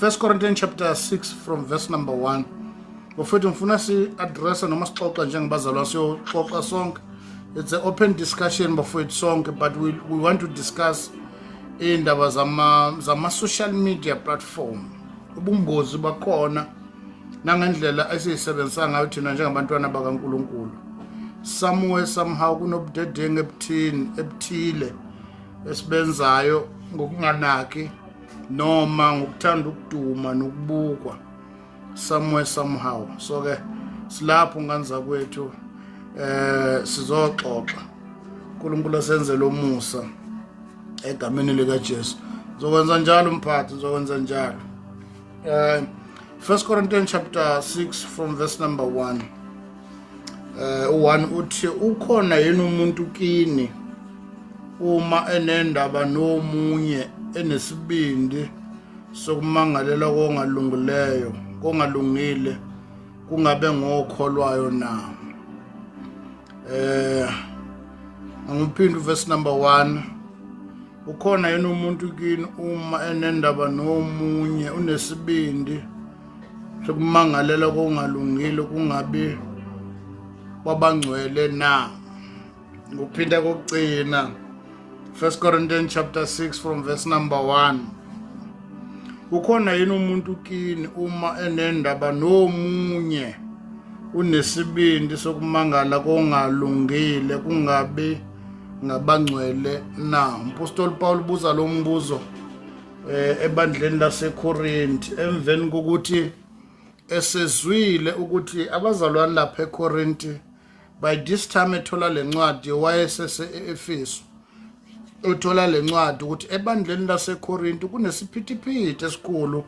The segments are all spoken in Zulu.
First Corinthians chapter 6 from verse number 1 bafethu ngifuna si-adressa noma sixoxa njengabazalwa siyoxoxa sonke it's an open discussion bafowethu sonke but we, we want to discuss iy'ndaba zama-social zama media platform ubungozi bakhona nangendlela esiyisebenzisa ngayo thina njengabantwana bakankulunkulu somewhere somehow kunobudedengu ebuthini ebuthile esibenzayo ngokunganaki noma ngokuthanda ukuduma nokubukwa somewhere somehow so ke silapho ngane zakwethu eh sizoxoxa uNkulunkulu asenzele umusa egameni lika Jesu ngizokwenza njalo mphathi ngizokwenza njalo eh 1 Corinthians chapter 6 from verse number 1 eh one uthi ukhona yena umuntu kini uma enendaba nomunye enesibindi sokumangalela kongalungileyo kongalungile kungabe ngokholwayo na eh angiphinde verse number 1 ukhona yena umuntu kini uma enendaba nomunye unesibindi sekumangalela kungalungile kungabi kwabangcwele na nguphinda kokugcina 1 Corinthians chapter 6 from verse number 1 ukhona yini umuntu kini uma enendaba nomunye unesibindi sokumangala kongalungile kungabi ngabangcwele na umpostoli Paul ubuza lo mbuzo eh, ebandleni laseKorinti emveni kokuthi esezwile ukuthi abazalwane lapha eKorinti by this time ethola lencwadi wayesese eEfesu uthola lencwadi ukuthi ebandleni laseKorinti kunesiphithiphithi esikhulu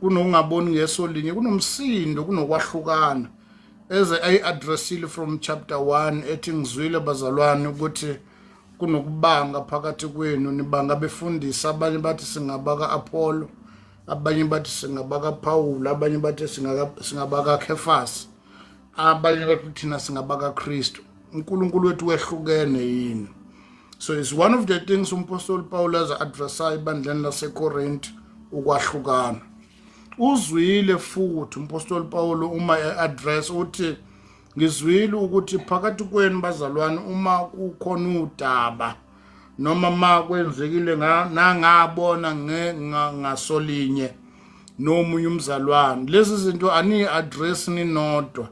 kunokungaboni ngeso linye kunomsindo kunokwahlukana eze ayi-addressile from chapter 1 ethi ngizwile bazalwane ukuthi kunokubanga phakathi kwenu nibanga befundisa abanye bathi singabaka Apollo abanye bathi singabaka Paul abanye bathi singabaka Kefas abanye bathi thina singabaka Kristu uNkulunkulu wethu wehlukene yini so it's one of the things umpostoli Paul aza adressa ibandleni laseKorinte ukwahlukana uzwile futhi umpostoli Paul uma e-address uthi ngizwile ukuthi phakathi kwenu bazalwane uma kukhona udaba noma ma kwenzekile nangabona ngasolinye nomunye umzalwane lezi zinto aniyi-address ninodwa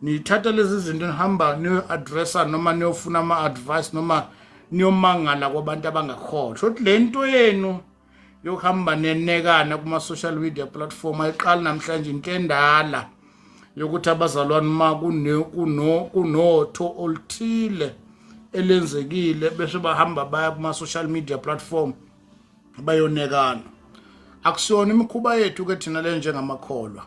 niyithatha lezi zinto nihamba niyo-addressa noma niyofuna ama-advice noma niyomangala kwabantu abangakholwa shothi le nto yenu yokuhamba nenekana kuma-social media platform ayiqali namhlanje into endala yokuthi abazalwane uma kunotho oluthile elenzekile bese bahamba baya kuma-social media platform bayonekana akusiyona imikhuba yethu-ke thina le njengamakholwa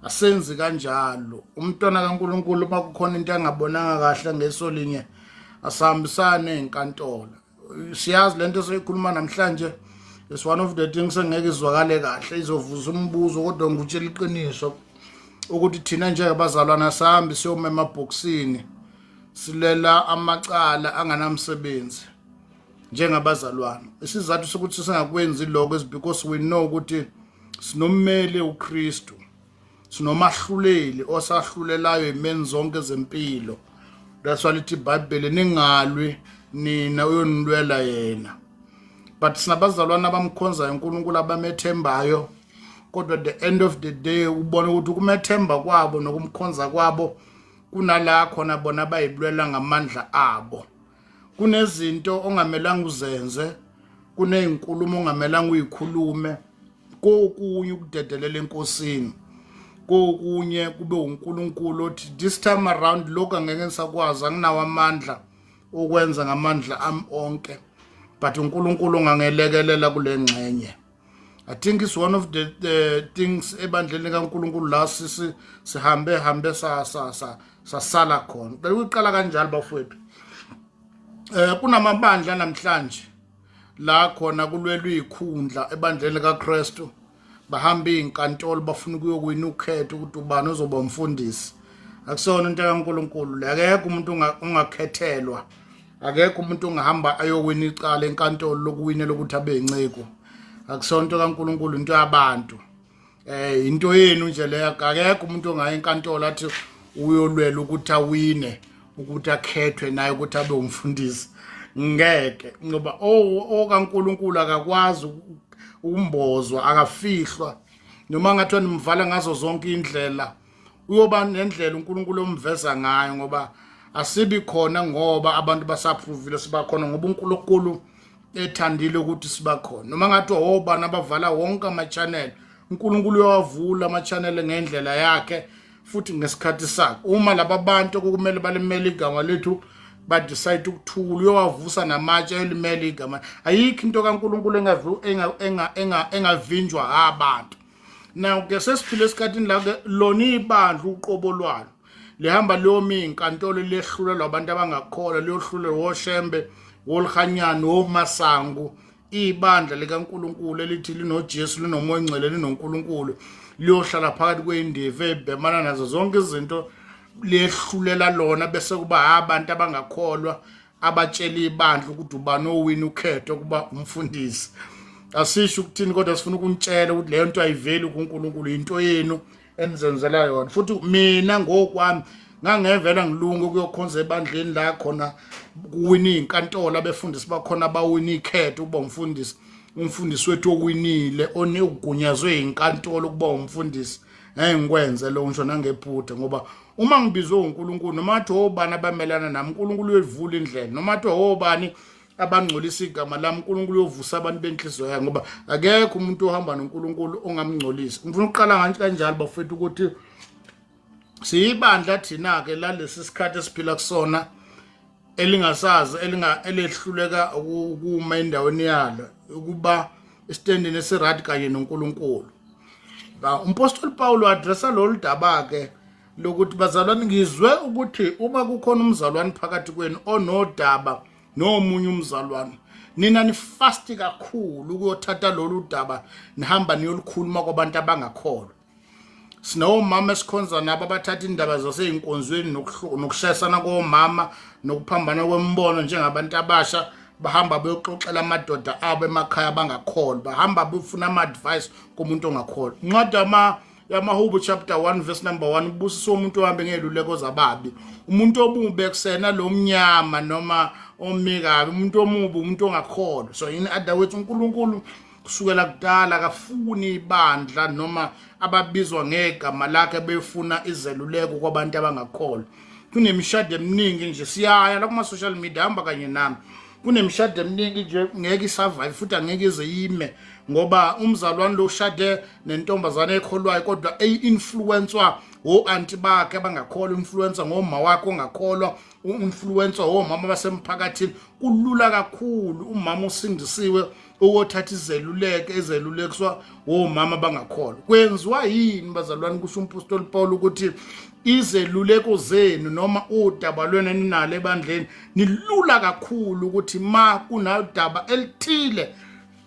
asenzi kanjalo umntwana kankulunkulu uma kukhona into angabonanga kahle ngeso linye asihambisane enkantolo siyazi lento soyikhuluma namhlanje is one of the things engeke izwakale kahle izovuza umbuzo kodwa ngikutshela iqiniso ukuthi thina njengabazalwana sihambe siyoma emabhokisini silela amacala anganamsebenzi njengabazalwana isizathu sokuthi singakwenzi lokho is because we know ukuthi sinommeli uKristu sinomahluleli osahlulelayo imeni zonke zempilo that's why lithi ibhayibheli ningalwi nina uyonilwela yena but sinabazalwane abamkhonzayo unkulunkulu abamethembayo kodwa at the end of the day ubona ukuthi ukumethemba kwabo nokumkhonza kwabo kunala khona bona bayibulwela ngamandla abo kunezinto ongamelanga uzenze kunezinkulumo ongamelanga uyikhulume kokunye ukudedelela enkosini kokunye kube uNkulunkulu othi this time around lokho angeke ngisakwazi anginawo amandla okwenza ngamandla ami onke but uNkulunkulu ungangelekelela kule ngxenye I think it's one of the, the things ebandleni kaNkulunkulu la sisi sihambe hambe sa sa sa sasala khona. Cela ukuqala kanjalo bafowethu. Eh kunamabandla namhlanje la khona kulwelwa ikhundla ebandleni kaKristu. Bahamba izinkantolo bafuna ukuyokwina ukhetho ukuthi ubani ozoba umfundisi. Akusona into kaNkulunkulu. Akekho umuntu ongakhethelwa. akekho umuntu ongahamba ayowina icala enkantolo lokuwinela ukuthi abe inceku akusonto kaNkuluNkulu into yabantu eh into yenu nje leyo akekho umuntu ongaye enkantolo athi uyolwela ukuthi awine ukuthi akhethwe naye ukuthi abe umfundisi ngeke ngoba okaNkuluNkulu akakwazi ukumbozwa akafihlwa noma ngathiwa nimvala ngazo zonke indlela uyoba nendlela uNkulunkulu omveza ngayo ngoba asibi khona ngoba abantu basaphuvile sibakhona ngoba uNkulunkulu ethandile ukuthi sibakhona noma ngathi obani abavala wonke ama-channel uNkulunkulu uyawavula ama-channel ngendlela yakhe futhi ngesikhathi sakhe uma laba bantu okumele balimele igama lethu badecide ukuthula uyowavusa namatshe elimele igama ayikho into kaNkulunkulu engavinjwa abantu Now ke sesiphile esikhathini la ke lona ibandla uqobo lwalo lihamba liyomi inkantolo lehlulelwa abantu abangakholwa liyohlulelwa woshembe wolihanyani womasango ibandla likaNkuluNkulu elithi linoJesu linomoya ongcwele linoNkuluNkulu liyohlala phakathi kweindive ebhemana nazo zonke izinto liyehlulela lona bese kuba abantu abangakholwa abatshele ibandla ukuthi ubani owina ukhetho kuba umfundisi asisho ukuthini kodwa sifuna ukunitshela ukuthi leyo nto ayiveli kuNkulunkulu into yenu enizenzela yona futhi mina ngokwami ngangevela ngilunge kuyokhonza ebandleni la khona kuwina izinkantolo abefundisi bakhona bawina ikhetho kuba umfundisi umfundisi wethu owinile onegunyazwe inkantolo kuba umfundisi ngeke ngikwenze lo ngisho nangephutha ngoba uma ngibizwe uNkulunkulu noma athi obani abamelana nami uNkulunkulu uyivula indlela noma athi obani abangcolisa igama lami uNkulunkulu uyovusa abantu benhliziyo yakhe ngoba akekho umuntu ohamba noNkulunkulu ongamngcolisi ngifuna ukuqala ngani kanjalo bafethu ukuthi siyibandla thina ke lalesi sikhathi esiphila kusona elingasazi elinga elehluleka ukuma endaweni yalo ukuba isitendini esirad kanye noNkulunkulu ba umpostoli Paul addressa lolu daba ke lokuthi bazalwane ngizwe ukuthi uma kukhona umzalwane phakathi kwenu onodaba nomunye umzalwane nina nifasti kakhulu ukuyothatha lolu daba nihamba niyolukhuluma kwabantu abangakholwa sinomama esikhonza nabo abathatha indaba zasey'nkonzweni nokushayisana komama nokuphambana kwemibono njengabantu abasha bahamba beyoxoxela amadoda abo emakhaya bangakholi bahamba befuna ama-advice komuntu ongakholi incwadi yamahubo chapter 1 verse number 1 ubusisa womuntu ohambe ngey'luleko zababi umuntu omubi ekusena lo mnyama noma omikabi umuntu omubi umuntu ongakholwa so in other words unkulunkulu kusukela kudala akafuni ibandla noma ababizwa ngegama lakhe befuna izeluleko kwabantu abangakholwa kunemishado eminingi nje siyaya la kuma-social media hamba kanye nami kunemishado eminingi nje ngeke isavive futhi angeke ize yime ngoba umzalwane lo ushade nentombazane ekholwayo kodwa eyi-influenswa o-anti bakhe abangakholwa u-influensa ngoma wakhe ongakholwa u-influensa womama basemphakathini kulula kakhulu umama usindisiwe ukothatha izeluleko ezelulekiswa womama bangakholwa kwenziwa yini bazalwane kusho umpostoli Paul ukuthi izeluleko zenu noma udaba lwenu eninalo ebandleni nilula kakhulu ukuthi ma kunadaba elithile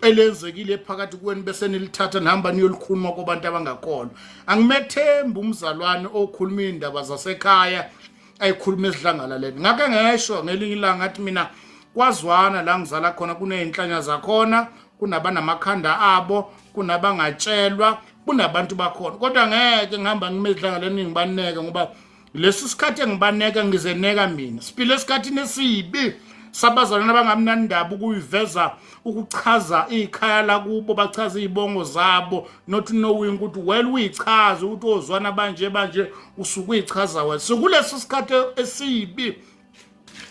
elenzekile phakathi kweni bese nilithatha nihamba niyolikhuluma kwabantu abangakholwa angimethembi umzalwane okhuluma iy'ndaba zasekhaya ayikhuluma esidlangala leni ngake ngesho ngelinye ilanga ngathi mina kwazwana la ngizala khona kuney'nhlanya zakhona kunabanamakhanda abo kunabangatshelwa kunabantu bakhona kodwa ngeke ngihamba ngime edlangaleni ngibaneke ngoba lesi sikhathi engibaneka ngizeneka mina siphile esikhathini esibi sabazalwana abangamnandaba ukuyiveza ukuchaza ikhaya lakubo bachaza izibongo zabo not knowing ukuthi well uyichaza ukuthi ozwana banje banje usuke uyichaza wena sikulesi sikhathi esiyibi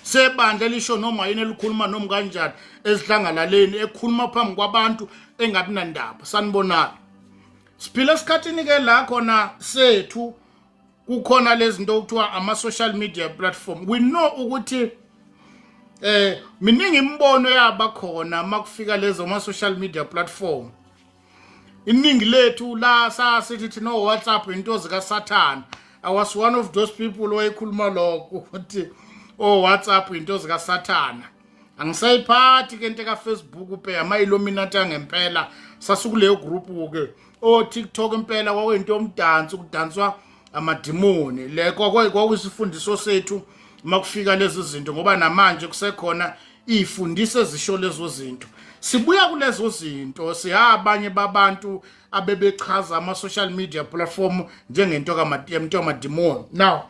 sebandla lisho noma yini elikhuluma noma kanjani ezihlangalaleni ekhuluma phambi kwabantu engabi nandaba sanibonani siphila esikhathini ke la khona sethu kukhona lezinto okuthiwa ama social media platform we know ukuthi eh miningi imibono yabakhona makufika lezo ma social media platform iningi lethu la sasithi thina no WhatsApp into zika sathana i was one of those people oyikhuluma lokho ukuthi oh WhatsApp into zika sathana angisayiphathi ke into ka Facebook upe amayilomina ngempela sasikuleyo group ke o TikTok impela kwakuyinto yomdanso kudanswa amadimoni le kwakusifundiso sethu makufika lezi zinto ngoba namanje kusekhona ifundiso ezisho lezo zinto sibuya kulezo zinto siyabanye babantu abebechaza ama social media platform njengento kaMatiya mntu yamadimoni now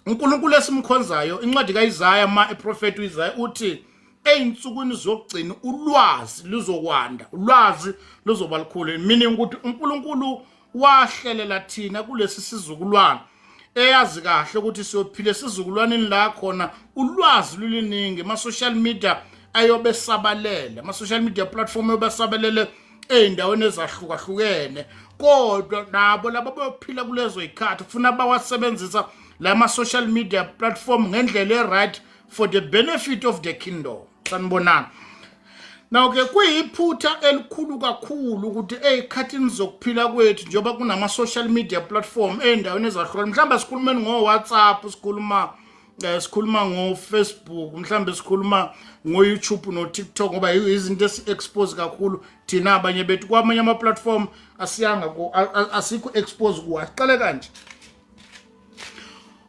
uNkulunkulu esimkhonzayo incwadi kaIsaya ma eprofeti uIsaya uthi eyinsukwini zokugcina ulwazi luzokwanda ulwazi luzoba lukhulu meaning ukuthi uNkulunkulu wahlelela thina kulesi sizukulwane eyazi kahle ukuthi siyophila esizukulwaneni la khona ulwazi luliningi ama-social media ayobe sabalele ama-social media platform ayobe sabalele ezindaweni ezahlukahlukene kodwa nabo laba bophila kulezo zikhathi kufuna bawasebenzisa lama social media platform ngendlela eright for the benefit of the kingdom sanibonana Now ke kuyiphutha elikhulu kakhulu ukuthi ezikhathini zokuphila kwethu njengoba kunama social media platform endaweni ezahlukene mhlawumbe sikhulumeni ngo WhatsApp sikhuluma eh, sikhuluma ngofacebook mhlawumbe sikhuluma ngoyoutube notiktok ngoba izinto esi-expose kakhulu thina abanye bethu kwamanye ama-platform asiyanga asikho expose kuwo asiqale kanje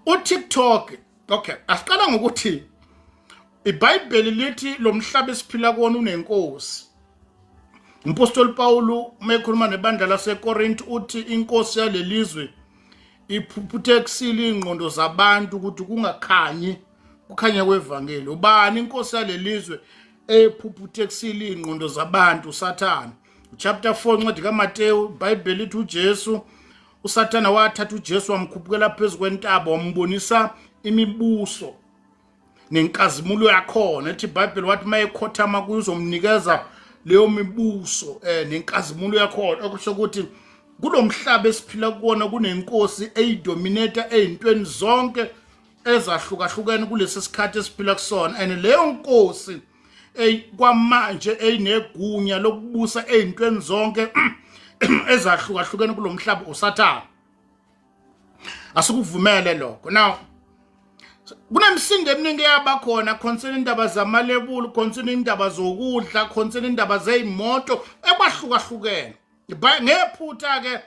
utiktok okay asiqala ngokuthi ibhayibheli lithi lo mhlaba esiphila kuwona unenkosi umpostoli pawulu uma ekhuluma nebandla lasekorinti uthi inkosi yalelizwe iphuphuta ekusile iy'ngqondo zabantu ukuthi kungakhanyi kukhanya kwevangeli ubani inkosi yalelizwe ephuphuta ekusile iy'ngqondo zabantu usathane uchapter 4 incwadi kamatewu ibhayibheli ithi ujesu usathane wathatha ujesu wamkhuphukela phezu kwentaba wambonisa imibuso nenkazimulo yakhona ethi ibhayibheli wathi uma ekhothama kuyo uzomnikeza leyo mibuso um nenkazimulo yakhona okusho ukuthi kulo mhlaba esiphila kuwona kunenkosi eyidomineta ey'ntweni zonke ezahlukahlukene kulesi sikhathi esiphila kusona and leyo nkosi kwamanje eyinegunya lokubusa ey'ntweni zonke ezahlukahlukene kulo mhlaba usathane asikuvumele lokho now kunemisindo eminingi eyaba khona concerning indaba zamalebulu concerning indaba zokudla concerning indaba zeyimoto ebahlukahlukene ngephutha-ke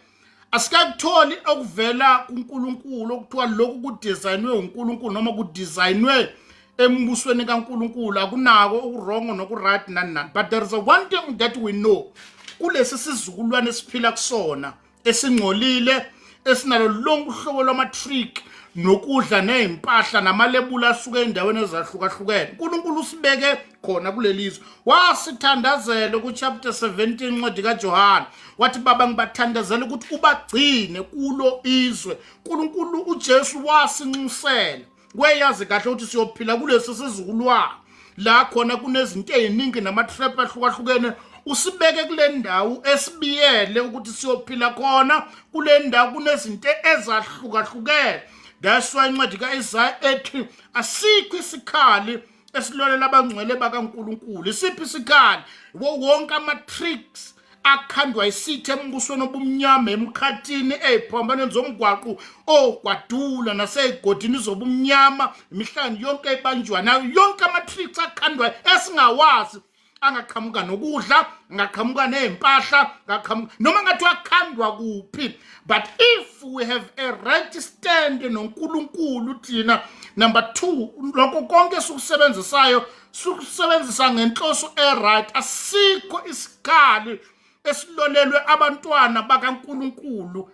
asikakutholi okuvela kuNkulunkulu okuthiwa lokhu kudesignwe uNkulunkulu noma kudesignwe embusweni kaNkulunkulu akunako okurongo nokuright nani nani but there is a one thing that we know kulesi sizukulwane esiphila kusona esingcolile esinalo lonke uhlobo lwama-trick nokudla nezimpahla namalebula asuke endaweni ezahlukahlukene uNkulunkulu usibeke khona kulelizwe wasithandazela ku chapter 17 incwadi kaJohane wathi baba ngibathandazela ukuthi ubagcine kulo izwe uNkulunkulu uJesu wasinxusela kweyazi kahle ukuthi siyophila kulesi sizukulwane la khona kunezinto eziningi nama-trap ahlukahlukene usibeke kule ndawo esibiyele ukuthi siyophila khona kule ndawo kunezinto ezahlukahlukene that's why incwadi ka-isaya ethi asikho isikhali esilolela abangcwele bakaNkuluNkulu isiphi isikali wonke ama-tricks akhandwa isithe embusweni obumnyama emkhathini ey'phambanweni zomgwaqo ogwadula nasey'godini zobumnyama imihlangano yonke ebanjwa nayo yonke ama-tricks akhandwa esingawazi angaqhamuka nokudla ngaqhamuka ney'mpahla ngaqhamuka noma ngathi wakhandwa kuphi but if we have a right stand nonkulunkulu thina number two lokho konke esikusebenzisayo sikusebenzisa ngenhloso eright asikho isikhali esilolelwe abantwana bakaNkuluNkulu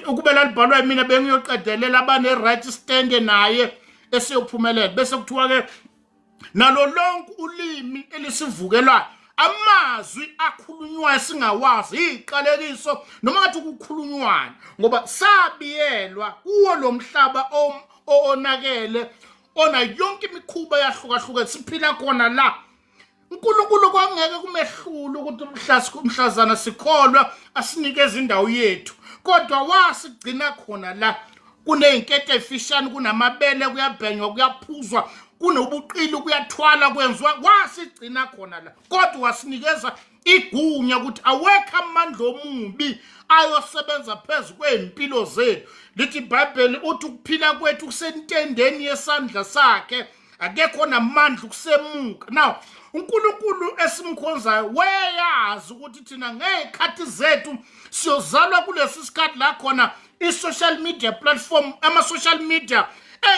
ukube lalibhalwa yimina bengiyoqedelela abane-right stand naye esiyophumelela bese kuthiwa-ke nalo lonke ulimi elisivukelayo amazwi akhulunywayo singawazi iqalekiso noma ngathi ukukhulunywani ngoba sabiyelwa kuwo lo mhlaba onakele ona yonke imikhuba yahlukahlukene siphila kona la uNkulunkulu kwangeke kumehlule ukuthi umhlazi umhlazana sikholwa asinikeze indawo yethu kodwa wasigcina khona la kunezinkethe efishane kunamabele kuyabhenywa kuyaphuzwa kunobuqili kuyathwala kwenziwa wasigcina khona la kodwa wasinikeza igunya ukuthi awekho amandla omubi ayosebenza phezu kwey'mpilo zethu lithi ibhayibheli uthi ukuphila kwethu kusentendeni yesandla sakhe akekho namandla ukusemuka now uNkulunkulu esimkhonzayo weyazi ukuthi thina ngey'khathi zethu siyozalwa kulesi sikhathi la khona i-social media platform ama-social media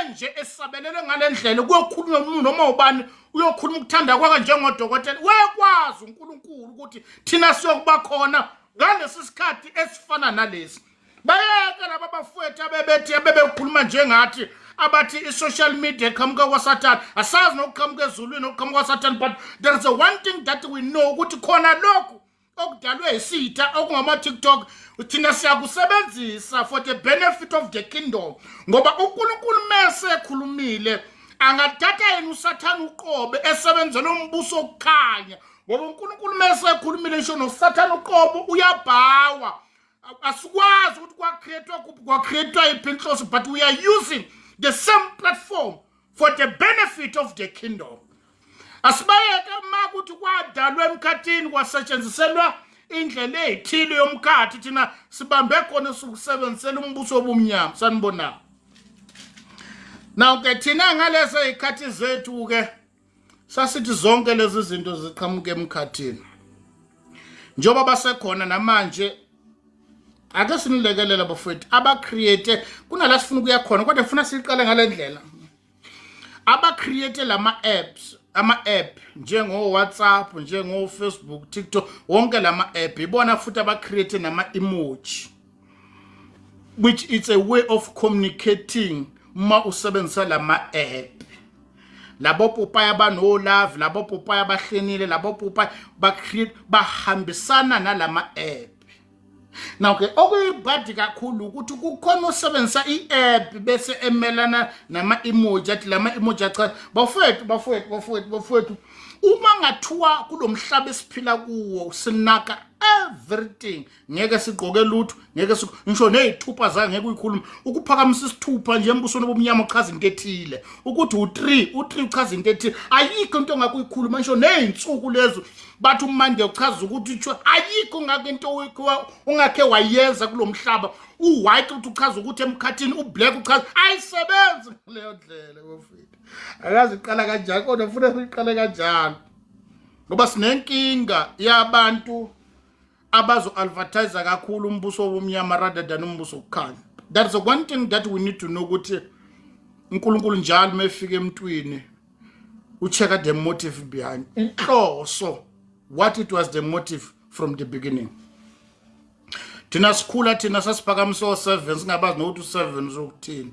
enje esabelele ngale ndlela kuyokhulunywa umuntu noma ubani uyokhuluma ukuthanda kwakhe njengodokotela wekwazi unkulunkulu ukuthi thina siyokuba khona ngalesi sikhathi esifana nalesi bayeke laba bafowethu abebethi abebekhuluma njengathi abathi i-social media eqhamuka kwasathane asazi nokuqhamuka ezulwini okuqhamuka kwasathane but there is a one thing that we know ukuthi khona lokhu okudalwe isitha okungama-tiktok thina siyakusebenzisa for the benefit of the kingdom ngoba unkulunkulu mese ekhulumile angathatha yena usathane uqobe esebenzela umbuso okukhanya ngoba unkulunkulu mese ekhulumile ngisho nosathane uqobo uyabhawa asikwazi ukuthi kwacreatwa kuphi kwacreatwa iphi inhloso but we are using the same platform for the benefit of the kingdom asibayeke uma ukuthi kwadalwa emkhathini kwasetshenziselwa indlela eyithile yomkhathi thina sibambe khona sikusebenzisela umbuso obumnyama sanibonani now ke thina ngalezo izikhathi zethu ke Sasithi zonke lezi zinto ziqhamuke emkhathini. Njengoba basekhona namanje ake sinilekelela bafowethu abacreate kunala sifuna ukuya khona kodwa ngifuna siqale ngale ndlela abacreate lama apps ama-app njengo-whatsapp njengo-facebook tiktok wonke lama-app ibona futhi abacreate nama-emoji which it's a way of communicating uma usebenzisa lama app labo popayi abanolove labo popayi abahlenile labo popayi bahambisana nalama app now ke okuyibadi kakhulu ukuthi kukhona osebenzisa i-app bese emelana nama-emoji athi lama-emoji achaza bafowethu bafowethu bafowethu bafowethu uma ngathiwa kulo mhlaba esiphila kuwo sinaka everything ngeke sigqoke lutho ngeke ngisho nezithupha zake ngeke uyikhuluma ukuphakamisa isithupha nje embusweni obumnyama uchaza into ethile ukuthi u3 u3 uchaza into ethile ayikho into ngakho uyikhuluma ngisho nezinsuku lezo bathi umande uchaza ukuthi utsho ayikho ngakho into ungakhe wayenza kulomhlaba uwhite uthi uchaza ukuthi emkhathini ublack uchaza ayisebenzi leyo ndlela bofethu akazi iqala kanjani kodwa futhi siqale kanjalo ngoba sinenkinga yabantu abazo-advertise kakhulu umbuso womnyama rather than umbuso wokukhanya that's the one thing that we need to know ukuthi unkulunkulu njalo uma efika emntwini ucheck the motive behind inhloso what it was the motive from the beginning thina sikhula thina sasiphakamisa o-seven singabazi nokuthi u-seven sokuthini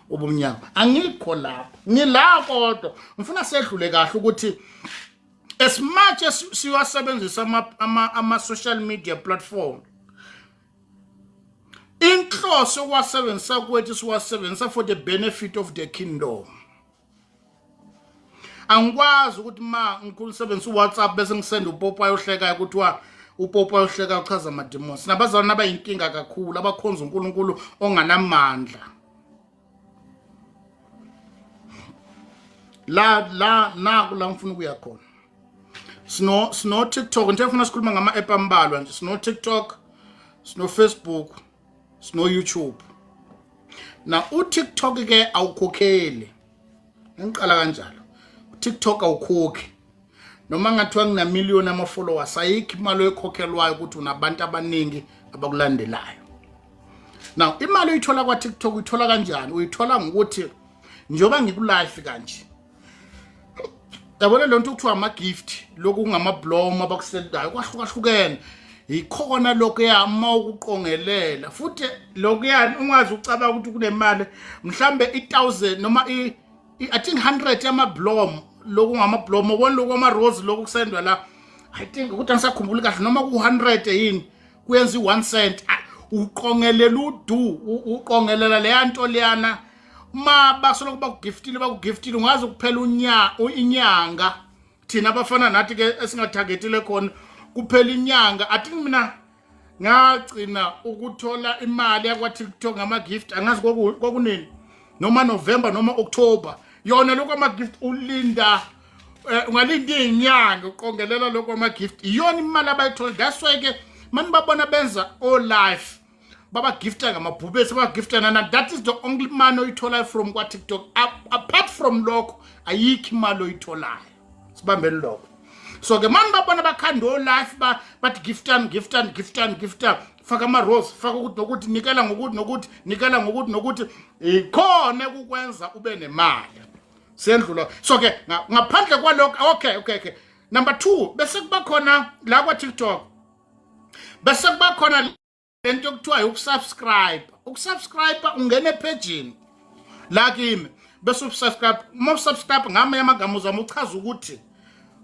ubumnyama angikho lapho ngila kodwa ngifuna sedlule kahle ukuthi as much as siwasebenzisa ama-social ama, ama media platform inhloso yokuwasebenzisa kwethu siwasebenzisa for the benefit of the kingdom angikwazi ukuthi ma ngikhulu sebenzisa uwhatsapp bese ngisenda upopo ayohlekayo kuthiwa upopo ayohleka uchaza amademon sinabazalwane abayinkinga kakhulu abakhonza unkulunkulu onganamandla la la naku la ngifuna ukuya khona sino sino tiktok nje ngifuna sikhuluma ngama-app ambalwa nje sino tiktok sino facebook sino YouTube na u TikTok ke awukhokheli ngiqala kanjalo u TikTok awukhokhi noma ngathiwa ngina million ama followers ayikho imali oyikhokhelwayo ukuthi unabantu abaningi abakulandelayo now imali uyithola kwa TikTok uyithola kanjani uyithola ngokuthi njoba ngikulife kanje yabona le nto kuthiwa ama-gift lokhu kungamabloma abakuselayo kwahlukahlukene yikhona lokuya uma ukuqongelela futhi lokuyani ungazi ucabanga ukuthi kunemali mhlambe i-1000 noma i think 100 yamablom loku ngamablom kwaloku ama-rose loku kusendwa la i think ukuthi angisakhumbuli kahle noma ku-100 yini kuyenza i-one cent uqongelela udu uqongelela leya nto leyana ma basoloko bakugiftile bakugiftile ungaze ukuphela inyanga thina abafana nathi ke esingathagethile khona kuphela inyanga athi mina ngagcina ukuthola imali yakwa-tiktok ngama-gift angazi kwakunini noma november noma october yona lokhu ama-gift ulinda Eh, ungalinda iy'nyanga uqongelela lokhu ama-gift iyona imali abayithole that's why ke mani babona benza olife babagifta ngamabhubesi babagifta nanani that is the only mali oyitholayo from kwatiktok apart from lokho ayikho imali oyitholayo sibambeni lokho so ke mani babona bakhanda olife bathi giftan giftan giftan giftan faka ama-rose faka ukuthi nokuthi nikela ngokuthi nokuthi nikela ngokuthi nokuthi ikhona kukwenza ube nemali sendlula so ke ngaphandle kwalokho okay okay okay number 2 bese kuba khona la kwa TikTok bese kuba khona lento okuthiwa ukusubscribe ukusubscribe ungena ephejini la kimi bese usubscribe uma usubscribe ngama yamagama uzama uchaza ukuthi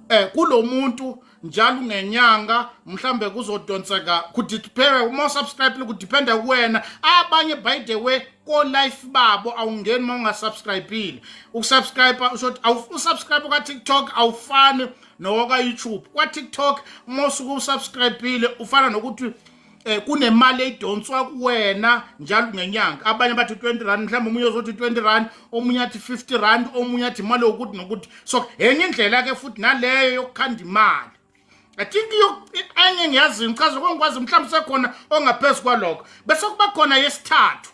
eh kulomuntu njalo ngenyanga mhlambe kuzodonseka kudiphere uma subscribe kudependa kuwena abanye by the way ko life babo awungeni uma ungasubscribile ukusubscribe usho ukuthi usubscribe ka TikTok awufani nowaka YouTube kwa TikTok uma usuke usubscribile ufana nokuthi eh kunemali edonswa kuwena njalo ngenyanga abanye bathi 20 rand mhlawumbe omunye uzothi 20 rand omunye athi 50 rand omunye athi imali yokuthi nokuthi so enye indlela ke futhi naleyo yokukhanda imali i think enye ngiyazi ngichaza kwengikwazi mhlawumbe sekhona ongaphezu kwalokho bese kuba khona yesithathu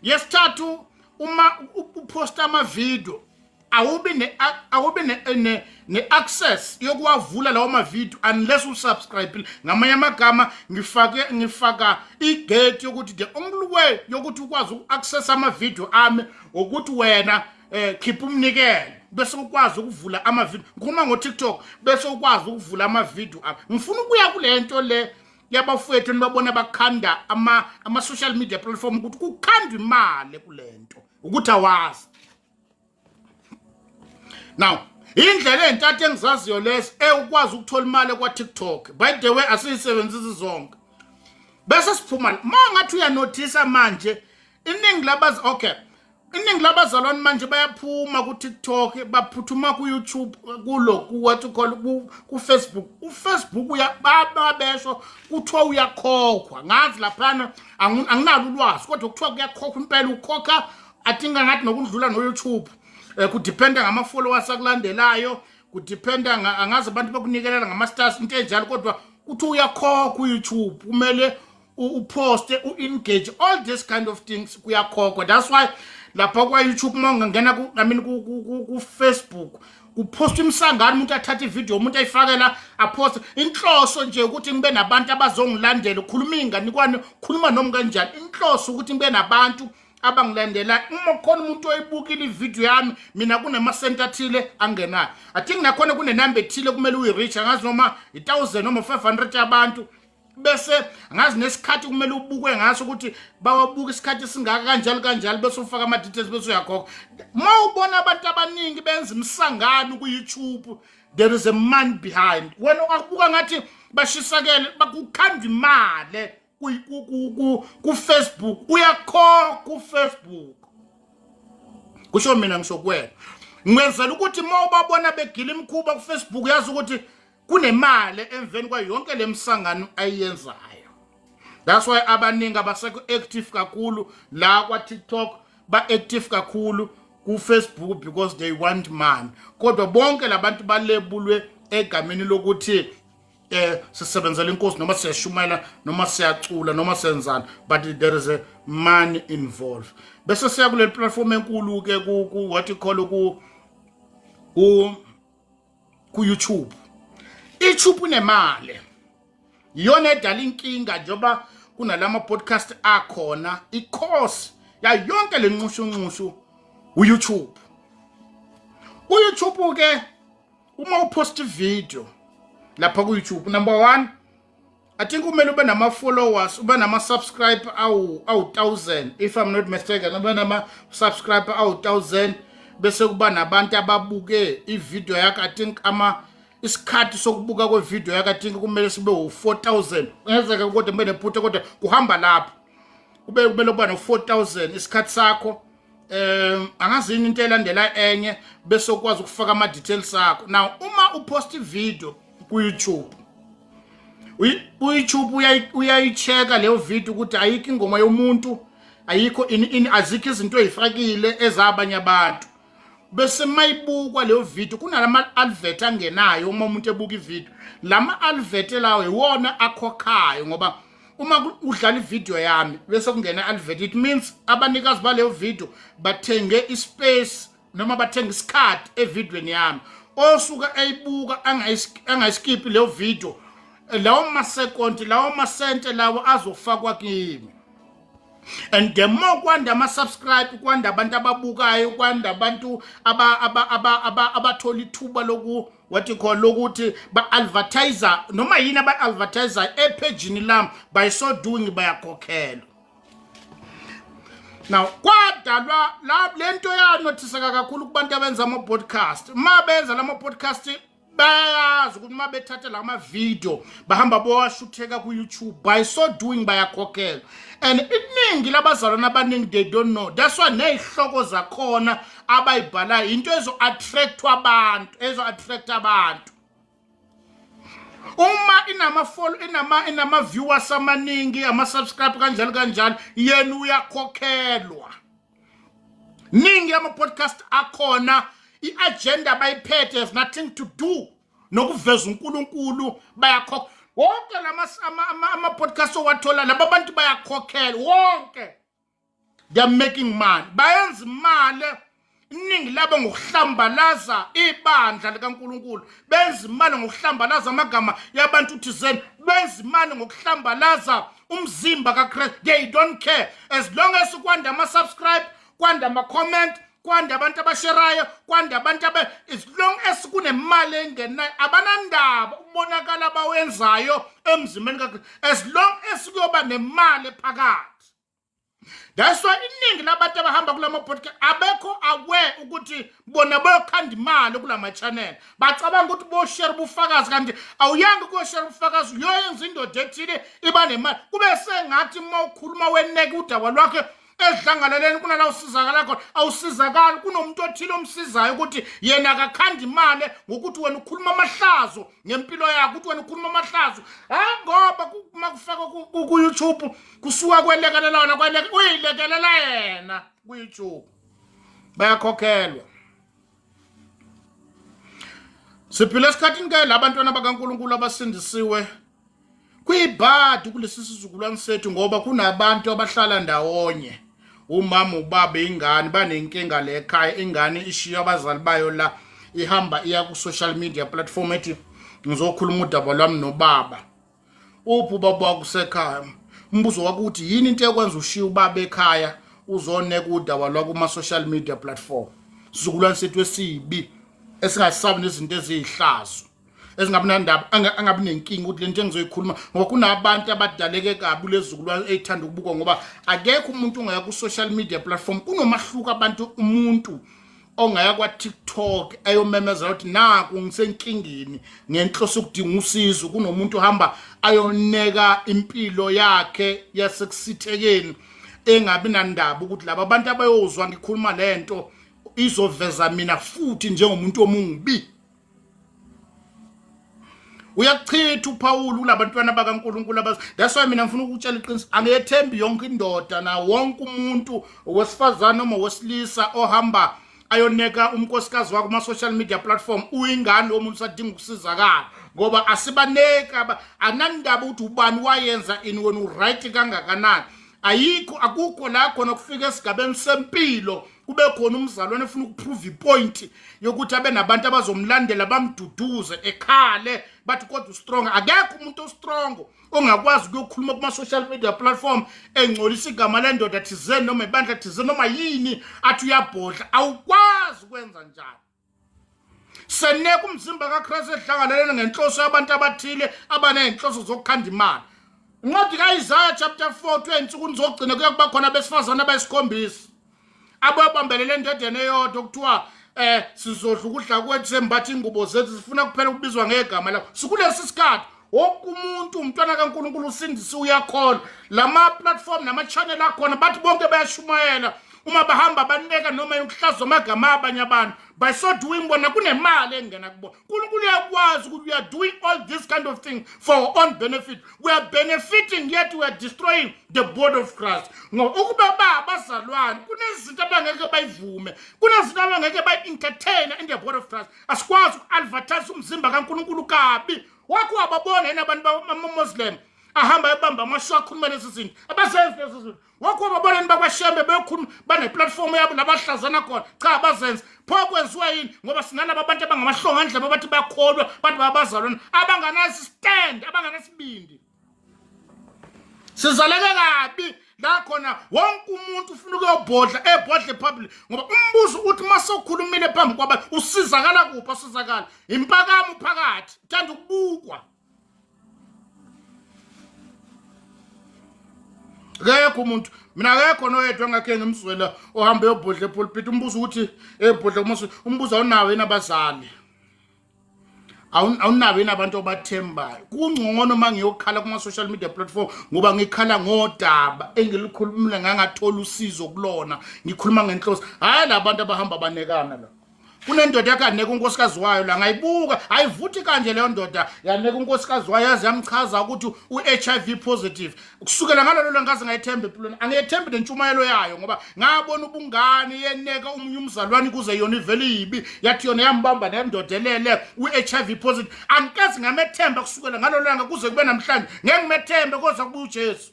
yesithathu uma uposta amavidiyo awubi ne awubi ne ne, ne access yokuwavula lawo ma video unless u subscribe ngamanye amagama ngifake ngifaka i gate yokuthi the only way yokuthi ukwazi uku access ama video ami ukuthi wena eh khipha umnikelo bese ukwazi ukuvula ama video ngikhuluma ngo TikTok bese ukwazi ukuvula ama video ami ngifuna ukuya kule nto le yabafowethu nibabona bakhanda ama ama social media platform ukuthi kukhandwa imali kulento ukuthi awazi now indlela ezintathu engizaziyo lezi ewukwazi ukuthola imali kwa TikTok by the way asiyisebenzisi zonke bese siphuma ma ngathi uyanothisa manje iningi labaz okay iningi labazalwane manje bayaphuma ku TikTok baphuthuma ku YouTube kuloku what you call ku Facebook u Facebook uyababa besho kuthiwa uyakhokhwa ngazi laphana anginalo ulwazi kodwa kuthiwa kuyakhokhwa impela ukhokha i think angathi nokudlula noyoutube um eh, kudependa ngama-followers akulandelayo kudependa angazi abantu bekunikelela ngama-stars into enjalo kodwa kuthi uyakhokha uyoutube kumele uposte u-engage all this kind of things kuyakhokhwa that's why lapha kwa-youtube uma ungangena i mean kufacebook ku, ku, ku kuphosta imsangano umuntu athatha ividiyo umuntu ayifakela aphosta inhloso nje ukuthi ngibe nabantu abazongilandela ukhuluma iy'nganikwane ukhuluma nomi kanjani inhloso ukuthi ngibe nabantu abangilandelayo uma kukhona umuntu oyibukile ividiyo yami mina kunemasenti athile angenayo i think nakhona kunenamba ethile kumele uyi-reach angazi noma i-thousand noma five hundred abantu bese ngazi nesikhathi kumele ubukwe ngaso ukuthi bawabuka isikhathi singaka kanjalo kanjalo bese ufaka ama details bese uyakhokha uma ubona abantu abaningi benza imsangano ku YouTube there is a man behind wena ubuka ngathi bashisakele bakukhanda imali kufacebook uyakhokha kufacebook kusho mina ngisho kuwena ngenzela ukuthi uma ubabona begila imikhuba kufacebook yazi ukuthi kunemali emveni kwayo yonke le misangano ayiyenzayo that's why abaningi abasekho active kakhulu la kwa-tiktok ba-active kakhulu kufacebook because they want money kodwa bonke labantu balebulwe egameni lokuthi eh sisebenzela inkosi noma siyashumayela noma siyacula noma senzana but there is a money involved bese siya kule platform enkulu ke ku, ku what you call ku ku ku YouTube iTube unemali iyona edala inkinga njoba kunalama podcast akhona icourse ya yonke lenxushunxushu uYouTube uYouTube ke uma upost video lapha ku YouTube number 1 I think kumele ube nama followers ube nama subscriber awu awu 1000 if I'm not mistaken ube nama subscriber awu 1000 bese kuba nabantu ababuke i video yakhe I think ama isikhathi sokubuka kwe video yakhe I think kumele sibe u 4000 ngezeke kodwa mbe nephutha kodwa kuhamba lapho ube kumele kuba no 4000 isikhathi sakho um angazi yini into elandela enye bese ukwazi ukufaka ama-details akho now uma uposta ividiyo kuyoutube uyoutube uyayicheka leyo vidiyo ukuthi ayikho ingoma yomuntu ayikho ini ini azikho izinto ey'fakile ezabanye abantu bese mayibukwa leyo video kunalama advert angenayo uma umuntu ebuka ivideo lama advert lawo iwona akhokhayo ngoba uma udlala ivideo yami bese kungena advert it means abanikazi baleyo video bathenge ispace noma bathenga isikhathi evidweni yami osuke eyibuka angayiskiphi leyo video lawo masekonti lawo masente lawo azofakwa kimi and the more kwanda ama-subscribe kwanda abantu ababukayo kwanda abantu abathola ithuba what you call lokuthi ba-advertiser noma yini aba-advertiser ephejini lam by so doing bayakhokhelwa now kwadalwa le nto yanothiseka kakhulu kubantu abenza ama-podcast uma benza la ma-podcast bayazi ukuthi uma bethathe la mavidiyo bahamba bowashutheka ku-youtube by so doing bayakhokhelwa and iningi labazalwana abaningi they don't know that's why ney'hloko zakhona abayibhalayo into ezo attract abantu ezo attract abantu uma inama follow inama inama viewers amaningi ama subscribe kanjalo kanjalo yena uyakhokhelwa ningi ama podcast akhona i agenda bayiphethe has nothing to do nokuveza uNkulunkulu bayakhokha wonke lama ama podcast owathola laba bantu bayakhokhelwa wonke they are making money bayenza imali iningi labo ngokuhlambalaza ibandla likaNkuluNkulu benza imali ngokuhlambalaza amagama yabantu thizeni benza imali ngokuhlambalaza umzimba kaKristu they don't care as long as kwanda ama subscribe kwanda ama comment kwanda abantu abasherayo kwanda abantu abe as long as kunemali engenayo abanandaba ukubonakala abawenzayo emzimbeni kaKristu as long as kuyoba nemali phakathi that's why iningi labantu abahamba kula mapodcast abekho aware ukuthi bona bayokhanda imali kula ma-channel bacabanga ukuthi boshare ubufakazi kanti awuyanga ukuyoshare ubufakazi uyoyenza indoda ethile iba nemali kube sengathi uma ukhuluma weneke udaba lwakhe edlangalaleni kunala usizakala khona awusizakali kunomuntu othile omsizayo ukuthi yena akakhanda imali ngokuthi wena ukhuluma amahlazo ngempilo yakho ukuthi wena ukhuluma amahlazo hayi ngoba uma kufakwa ku-youtube kusuka kwelekelela wena kweleke uyilekelela yena kuyijuba bayakhokhelwa siphila esikhathini ke labantwana bakaNkuluNkulu abasindisiwe kwibhadi kulesi sizukulwane sethu ngoba kunabantu abahlala ndawonye umama ubaba ingane banenkinga le ekhaya ingane ishiya abazali bayo la ihamba iya ku-social media platform ethi ngizokhuluma udaba lwami nobaba uphi ubaba wakho usekhaya umbuzo wakuthi yini into ekwenza ushiye ubaba ekhaya uzoneka udaba lwakho kuma-social media platform sizukulwane sethu esibi esingasabi nezinto eziyihlazo ezingabi nandaba angabi nenkinga ukuthi le nto engizoyikhuluma ngoba kunabantu abadaleke kabi kulezizukulwane eyithanda ukubukwa ngoba akekho umuntu ongaya ku-social media platform kunomahluko abantu umuntu ongaya kwa-tiktok ayomemezela ukuthi naku ngisenkingeni ngenhloso yokudinga usizo kunomuntu ohamba ayoneka impilo yakhe yasekusithekeni engabi nandaba ukuthi laba bantu abayozwa ngikhuluma le nto izoveza mina futhi njengomuntu omungibi uyakuchitha uPawulu kulabantwana bakaNkuluNkulu abaz that's why mina ngifuna ukutshela iqiniso angethembi yonke indoda na wonke umuntu wesifazana noma wesilisa ohamba ayoneka umkosikazi wakho kuma-social media platform uyingane omuntu usadinga ukusizakala ngoba asibaneki anandaba ukuthi ubani wayenza ini wena uright kangakanani ayikho akukho la khona kufika esigabeni sempilo kube khona umzalwane efuna ukuprove ipoint yokuthi abe nabantu abazomlandela bamduduze ekhale bathi kodwa ustrong akekho umuntu ostrong ongakwazi ukuyokhuluma kuma-social media platform engcolisa igama lendoda thizeni noma ibandla thizeni noma yini athi uyabhodla awukwazi ukwenza njani seneka umzimba kakristu ehlanganelene ngenhloso yabantu abathile abanezinhloso zokukhanda imali incwadi kaisaya chapter 4 kuthiwa ensukwini zokugcina kuye kuba khona abesifazane abayisikhombisa ababambelele endodeni eyodwa kuthiwa eh sizodla ukudla kwethu sembatha ingubo zethu sifuna kuphela ukubizwa ngegama lakho sikulesi sikhathi wonke umuntu umntwana kaNkulunkulu usindisi uyakhona lama platform nama channel akhona bathi bonke bayashumayela uma bahamba baneka noma yokuhlaza amagama abanye abantu by so doing bona kunemali engena kubona unkulunkulu uyakwazi ukuthi we are doing all this kind of thing for our own benefit we are benefiting yet we are destroying the body of christ ngoba ukuba ba abazalwane kunezinto abangeke bayivume kunezinto abangeke bayi-entertaine in the body of christ asikwazi uku-advertise umzimba kankulunkulu kabi wakho wababona yini abantu bamamuslim ahamba ebamba amasho akhuluma lezi zinto abazenzi lezi zinto wakho wababona yini bakwashembe beyokhuluma baneplatform yabo labahlazana khona cha abazenzi pho kwenziwa yini ngoba sinalaba abantu abangamahlonga ndleba bathi bakholwa bantu babazalwana abanganasi stand abanganasibindi sizaleke kabi la khona wonke umuntu ufuna ukuyobhodla ebhodle public ngoba umbuzo uthi uma sokhulumile phambi kwabantu usizakala kuphi asizakala impakamo phakathi uthanda ukubukwa akekho umuntu mina akekho noyedwa engakhe ngimzwela ohambe eyobhodla epulpit umbuzo ukuthi ebhodla umbuzo awunawo yini abazali awunabo yini abantu obathembayo kungcono uma ngiyokhala kuma-social media platform ngoba ngikhala ngodaba engilukhulumile ngangathola usizo kulona ngikhuluma ngenhloso hhayi la bantu abahamba banekana la kunendoda yakhe yaneka unkosikazi wayo la ngayibuka ayivuthi kanje leyo ndoda yaneka unkosikazi wayo yaze yamchaza ukuthi u-h i v positive ukusukela ngalelo langa ngaze ngayethemba empilweni angiyethembi nentshumayelo yayo ngoba ngabona ubungane yeneka umunye umzalwane kuze yona ivele iyibi yathi yona yambamba nendodelele u-hiv positive angikazi ngamethemba kusukela ngalelo langa kuze kube namhlanje ngeke ngimethembe koza kuba ujesu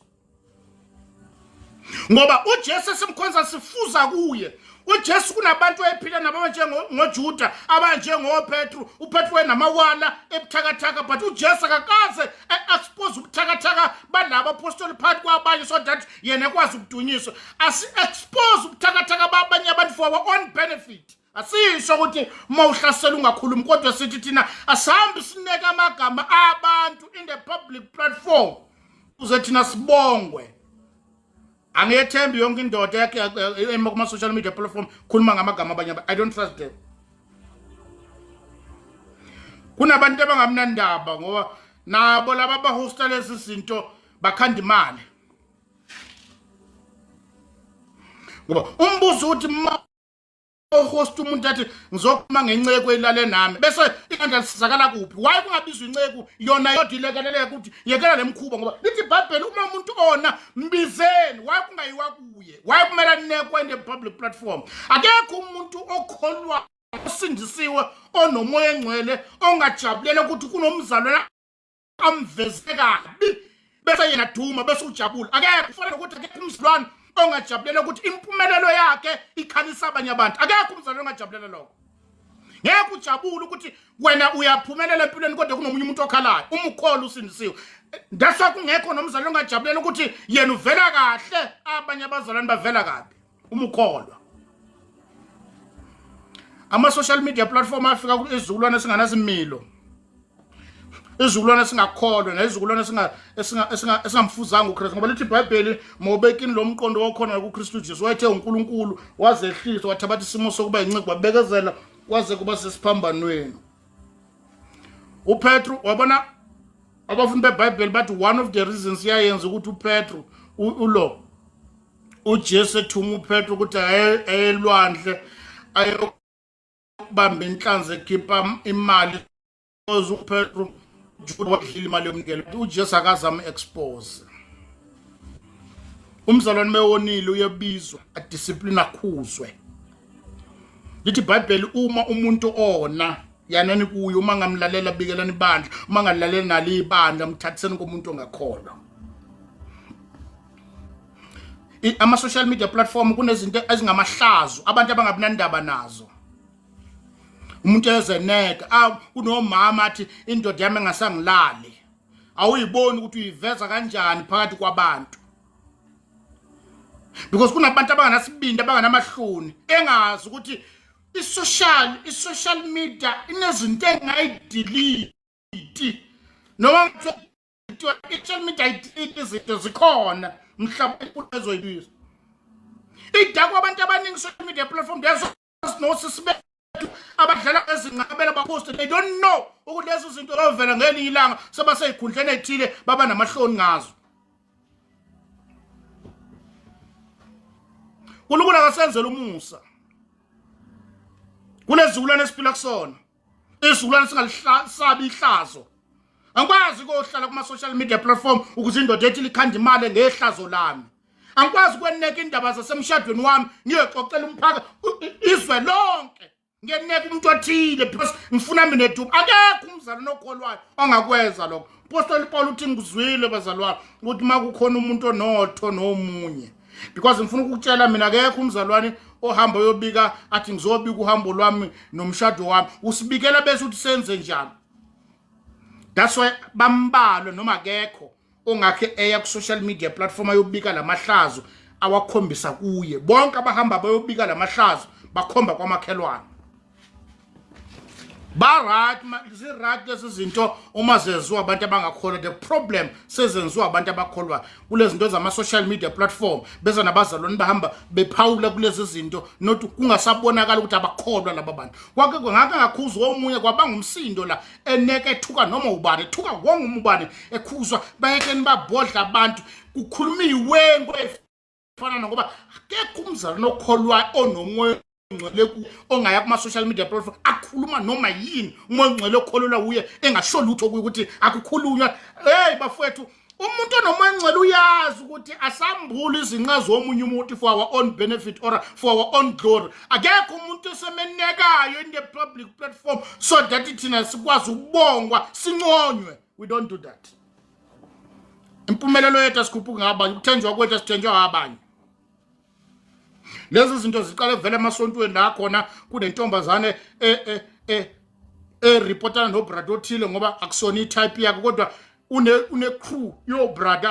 ngoba ujesu esimkhonza sifuza kuye uJesu kunabantu ayephila nabo abanjengoJuda abanjengoPetru uPetru wayenamawala ebuthakathaka but uJesu akakaze e-expose ubuthakathaka balabo apostoli phakathi kwabanye so that yena ekwazi ukudunyiswa asi-expose ubuthakathaka babanye abantu for our own benefit asisho ukuthi uma uhlasela ungakhulumi kodwa sithi thina asihambi sineke amagama abantu in the public platform uze thina sibongwe angiyethembi yonke indoda yakhe ema kuma-social media platform khuluma ngamagama abanye i don't trust them kunabantu abangamnandaba ngoba nabo laba bahosta lezi zinto bakhanda imali ngoba umbuzo uthi ohost umuntu athi ngizokhuluma ngenceku elale nami bese ikhanda lisizakala kuphi why kungabizwa inceku yona yodwa ilekeleleka ukuthi yekela le mkhuba ngoba lithi ibhayibheli uma umuntu ona mbizeni why kungayiwa kuye why kumele anekwe in the public platform akekho umuntu okholwa osindisiwe onomoya engcwele ongajabulela ukuthi kunomzalwana amveze kabi bese yena duma bese ujabula akekho kufanele ukuthi akekho umzalwane ongajabulela ukuthi impumelelo yakhe ikhalisa abanye abantu akekho umzalwane ongajabulela lokho ngeke ujabule ukuthi wena uyaphumelela empilweni kodwa kunomunye umuntu okhalayo uma ukhola usindisiwe that's why kungekho nomzalwane ongajabulela ukuthi yena uvela kahle abanye abazalwane bavela kabi uma ukholwa ama-social media platform afika izizukulwane esinganazimilo izizukulwane esingakholwe nezizukulwane esingamfuzanga ukristu ngoba lithi ibhayibheli mawubekini lo mqondo wakhona kukristu jesu wayethe unkulunkulu wazehlisa wathabatha isimo sokuba yinciko wabekezela kwaze kuba sesiphambanweni upetro wabona abafundi bebhayibheli bathi one of the reasons yayenza ukuthi upetro ulo uJesu ethuma uPetro ukuthi ayelwandle ayokubamba inhlanzi ekhipha imali because uPetro wadlile imali yomnikelo uJesu akazama expose umzalwane mewonile uyebizwa adiscipline akhuzwe lithi ibhayibheli uma umuntu ona yanani kuyo uma ngamlalela bikelani ibandla uma ngalalela nalo ibandla mthathiseni komuntu ongakholwa ama social media platform kunezinto ezingamahlazo abantu abangabinandaba nazo umuntu ezeneka ah kunomama athi indoda yami engasangilali awuyiboni ukuthi uyiveza kanjani phakathi kwabantu because kunabantu abanganasibindi abanganamahloni engazi ukuthi i-social i-social media inezinto engayidiliti noma into itshela mina ayithinte izinto zikhona mhlaba inkulu ezoyibizwa idakwa abantu abaningi social media platform ngezonosisi bethu abadlala ezingqabela baposte they don't know ukuthi lezo zinto zovela ngelinye ilanga sebaseyikhundleni ethile baba namahloni ngazo uNkulunkulu akasenzela umusa kunezikulwane esiphila kusona isizukulwane singalisabi ihlazo angikwazi kohlala kuma social media platform ukuthi indoda ethi likhanda imali ngehlazo lami angikwazi kweneka indaba zasemshadweni wami ngiyoxoxela umphaka izwe lonke ngeneka umuntu othile because ngifuna mina eduba akekho umzalwane okholwayo ongakwenza lokho postoli paul uthi ngizwile bazalwane ukuthi uma kukhona umuntu onotho nomunye because ngifuna ukukutshela mina kekho umzalwane ohamba oyobika athi ngizobika uhambo lwami nomshado wami usibikela bese uthi senze njani that's why bambalwe noma kekho ongakhe eya ku-social media platform ayobika la mahlazo awakhombisa kuye bonke abahamba bayobika la mahlazo bakhomba kwamakhelwane baright ziright lezi zinto uma zenziwa abantu abangakholwa the problem sezenziwa abantu abakholwayo kulezi zinto zama-social media platform beza nabazalwane bahamba bephawula kulezi zinto not kungasabonakala ukuthi abakholwa laba bantu kwake ngake ngakhuzwa omunye kwabanga umsindo la eneke ethuka noma ubani ethuka wonke umubani ekhuzwa bayekeni babodla abantu kukhulumiwe fana nokuba akekho umzalwane okholwayo onomoya ongcwele ku ongaya kuma-social media platform akhuluma noma yini uma ongcwele okholelwa wuye engasho lutho kuye ukuthi akukhulunywa heyi bafowethu umuntu onomoya ongcwele uyazi ukuthi asambuli izinqa zomunye umuntu for our own benefit or for our own glory akekho umuntu osemenekayo in the public platform so that thina sikwazi ukubongwa sinconywe we don't do that impumelelo yethu asikhuphuki ngabanye ukuthenjwa kwethu asithenjwa ngabanye lezi zinto ziqale vele emasontweni la khona kunentombazane e, e, e, eripotana nobrada othile ngoba akusona itype yakhe kodwa une-crew yobrada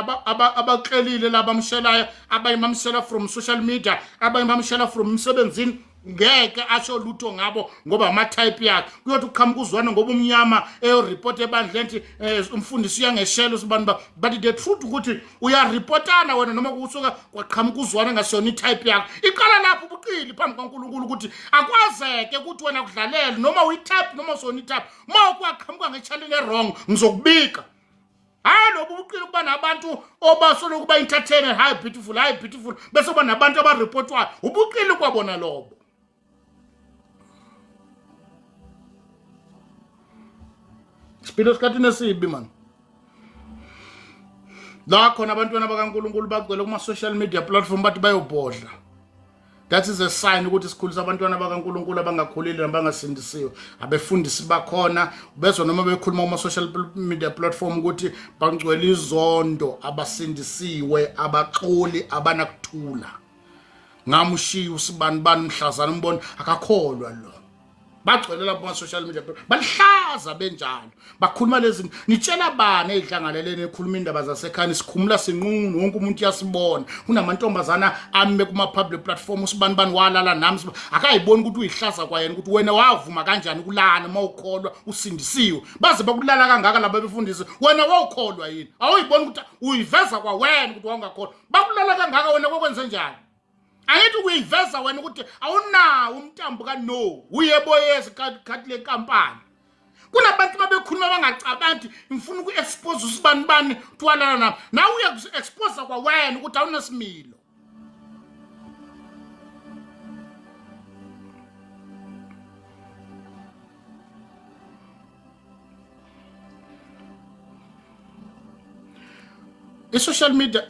abaxelile labamshelayo abanye bamshela from social media abanye bamshela from emsebenzini ngeke asho lutho ngabo ngoba ama-type yakhe kuyothi uqhamuka uzwana ngoba umnyama eyoripota ebandleni thi um eh, umfundisi uyangeshela usibani ba but the truth ukuthi uyaripotana wena noma kusuka kwaqhamuka uzwana ngasiyona i-type yakho iqala lapho ubuqili phambi kwankulunkulu ukuthi akwazeke ukuthi wena kudlalele noma uyi-type noma usona i-type ma kwaqhamuka ngetshalini erong ngizokubika hayi lobu buqile ukuba nabantu obasoloko ukuba entertainer hayi beautiful hayi beautiful bese uba nabantu abarepotwayo ubuqile ukwabona lobo siphila esikhathini esibi mani la khona abantwana bakankulunkulu bagcwele kuma-social media platform bathi bayobhodla that is a sign ukuthi sikhulisa abantwana bakaNkuluNkulu abangakhulile nabangasindisiwe abefundisi bakhona bezwa noma bekhuluma kuma social media platform ukuthi bangcwele izondo abasindisiwe abaxoli abanakuthula ngamushiya usibani bani mhlazana umbona akakholwa lo bagcwele lapho kuma-social media balihlaza benjalo bakhuluma lezi nitshela bani eyidlangaleleni ekhuluma indaba zasekhani sikhumula sinqunu wonke umuntu uyasibona kunamantombazana ame kuma-public platform usibani bani walala nami akayiboni ukuthi uyihlaza kwayena ukuthi wena wavuma kanjani ukulana uma ukholwa usindisiwe baze bakulala kangaka laba befundisi wena wawukholwa yini awuyiboni ukuthi uyiveza kwawena ukuthi wawungakholwa bakulala kangaka wena kwakwenze njani angithi ukuyiveza wena ukuthi awunawo umtambo kano uyebo yezi khathi le nkampani kunabantu babekhuluma bangacabanti ngifuna uku-expose usibani bani twalana nabo nawe uyaku-expose kwawena ukuthi awunesimilo i-social media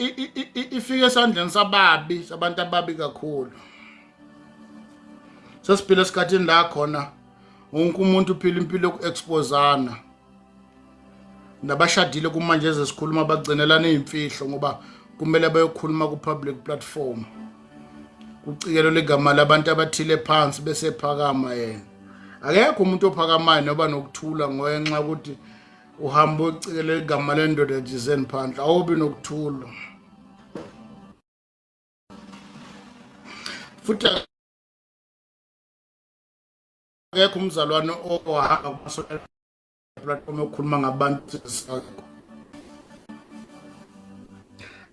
ifike esandleni sababi sabantu ababi kakhulu sesiphila esikhathini la khona wonke umuntu uphila impilo yoku-expozana nabashadile kumanje ezesikhuluma bagcinelana iy'mfihlo ngoba kumele bayokhuluma ku-public platform kucikelo ligama labantu abathile phansi bese phakama yena akekho umuntu ophakamayo noba nokuthula ngoyenxa ukuthi uhambe ucikelo ligama lendoda jizeni phandle awubi nokuthula futhi akekho umzalwane ohamba kumasonto platform yokukhuluma ngabantu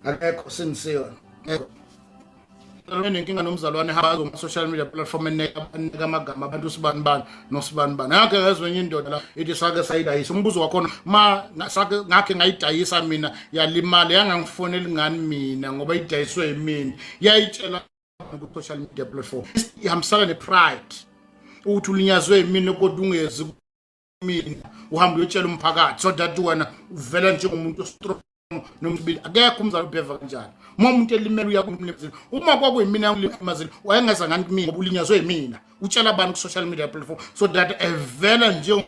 akekho sinisiwe ngeke nenkinga nomzalwane hamba azoma social media platform eneka amagama abantu sibani bani nosibani bani ngakhe ngezwe enye indoda la ithi sake sayidayisa umbuzo wakhona ma sake ngakhe ngayidayisa mina yalimala yangangifoneli ngani mina ngoba idayiswe yimina yayitshela ku social media platform ihambisana ne pride ukuthi ulinyazwe yimina kodwa ungezi mina uhambe uyotshela umphakathi so that wena uvela njengomuntu ostrong nomsibili akekho umzali ubheva kanjani uma umuntu elimele uyakulimazela uma kwakuyimina ulimazela wayengeza ngani kumina ngoba ulinyazwe yimina utshela abantu ku-social media platform so that evela nje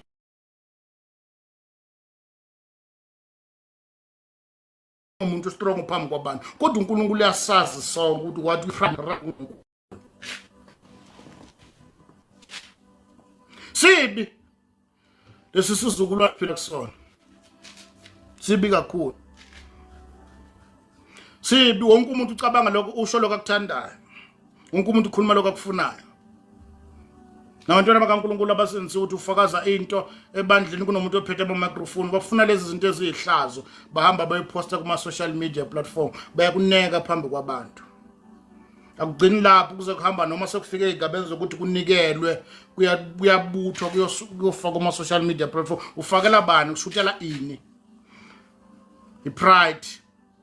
umuntu ustrong phambi kwabantu kodwa uNkulunkulu uyasazi sonke ukuthi what we from sibi lesi sizukulwane phila kusona sibi kakhulu sibi wonke umuntu ucabanga lokho usho lokho akuthandayo wonke umuntu ukhuluma lokho akufunayo nabantwana bakankulunkulu abasenzisa ukuthi ufakaza into ebandleni kunomuntu ophethe abamicrofoni bafuna lezi zinto eziyihlazo bahamba bayiphosta kuma-social media platform bayakuneka phambi kwabantu akugcini lapho kuze kuhamba noma sekufike iy'gabeni zokuthi kunikelwe kuyabuthwa kuyofakwa kuma-social media platform ufakela bani kushutela ini i-pride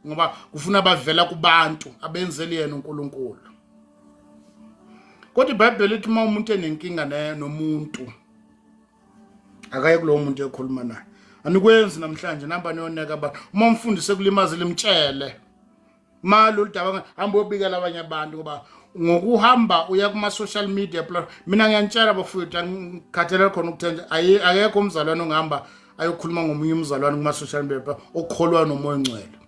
ngoba kufuna abavela kubantu abenzeli yena uNkulunkulu kodwa ibhayibheli lithi uma umuntu enenkinga nomuntu akaye kulowo muntu ekhuluma naye anikwenzi namhlanje namba niyoneka abantu uma umfundisi ekulimaza limtshele ma lolu daba hamba uyobikela abanye abantu ngoba ngokuhamba uya kuma-social media mina ngiyantshela bafowethu angikhathalele khona ukuthenja akekho umzalwane ongihamba ayokhuluma ngomunye umzalwane kuma-social media okholwa nomoya ongcwele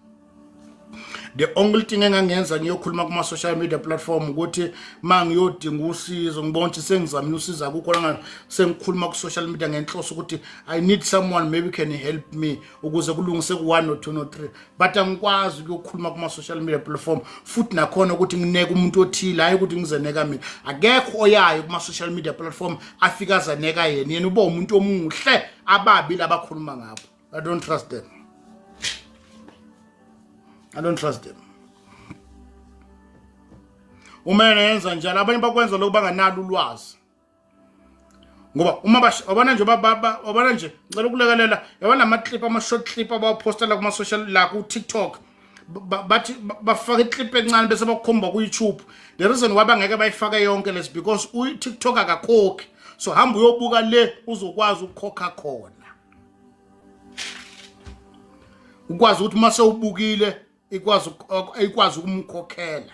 the only thing engangenza ngiyokhuluma kuma-social media platform ukuthi ma ngiyodinga usizo ngibona ukuthi sengizamile usiza kukho langa sengikhuluma ku-social media ngenhloso ukuthi i need someone maybe can help me ukuze kulungise ku-one or two no three but angikwazi ukuyokhuluma kuma social media platform futhi nakhona ukuthi ngineke umuntu othile hayi ukuthi ngizeneka mina akekho oyayo kuma social media platform afika azaneka yena yena uba umuntu omuhle ababi labakhuluma ngabo i don't trust them i don't trust them uma yenza njalo abanye bakwenza lokho banganalo ulwazi ngoba uma abana nje abana nje ngicela ukulekelela yabona ama-clip ama-short clip abawapostela kuma-social la ku-tiktok bathi bafaka iclip encane bese bakukhomba ku-youtube the reason why bangeke bayifake yonke les because utiktok akakhokhi so hamba uyobuka le uzokwazi ukukhokha khona ukwazi ukuthi uma sewubukile ikwazi ikwazi ukumkhokhela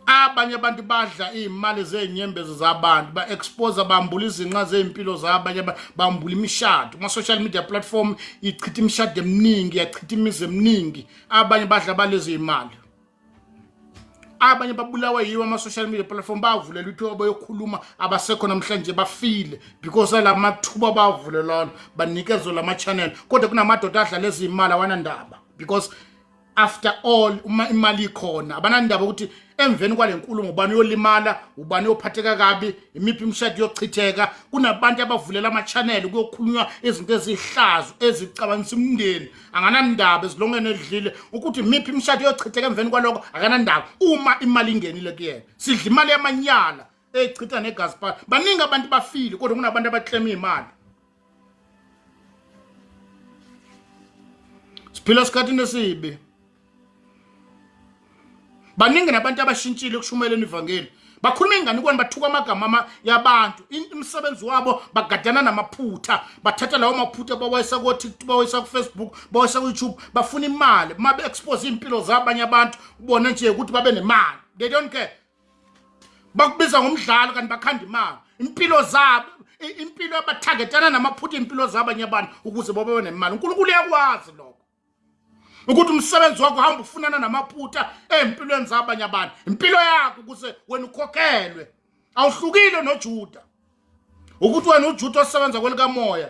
abanye abantu badla izimali zezinyembezo zabantu ba expose bambula izinqa zezimpilo zabanye bambula imishado kuma social media platform ichitha imishado eminingi yachitha imizi eminingi abanye badla balezi imali abanye babulawa yiwo ama-social media platform bavulelwa ithuba bayokhuluma abasekho namhlanje bafile because ala mathuba bavulelwana banikezwe la ma-channel kodwa kunamadoda adlala eziyimali awanandaba because after all uma imali ikhona abanandaba ukuthi emveni kwale nkulumo ubani uyolimala ubani uyophatheka kabi imiphi imishado yochitheka kunabantu abavulela ama-channel kuyokhulunywa izinto ezihlazo ezicabanisa umndeni anganandaba ezilongeni edlile ukuthi miphi imishado yochitheka emveni kwaloko akanandaba uma imali ingenile kuyena sidla imali yamanyala echitha negazi phaa baningi abantu bafile kodwa kunabantu abaklema iy'mali siphila esikhathini esibi baningi nabantu abashintshile kushumayeleni ivangeli bakhuluma inganekwane bathuka amagama yabantu umsebenzi wabo bagadana namaphutha bathatha lawo maphutha bawayisa kotiktok bawayisa kufacebook bawayisa kuyoutube bafuna imali uma be-expose iy'mpilo zabanye abantu kubona nje ukuthi babe nemali they don't care bakubiza ngomdlalo kanti bakhanda imali impilo zabo impilo abathagetana namaphutha iy'mpilo zabanye abantu ukuze babe nemali unkulunkulu uyakwazi lokho ukuthi umsebenzi wakho hamba ufunana namaphutha ezimpilweni zabanye abantu impilo yakho ukuze wena ukhokhelwe awuhlukile noJuda ukuthi wena uJuda osebenza kwelikamoya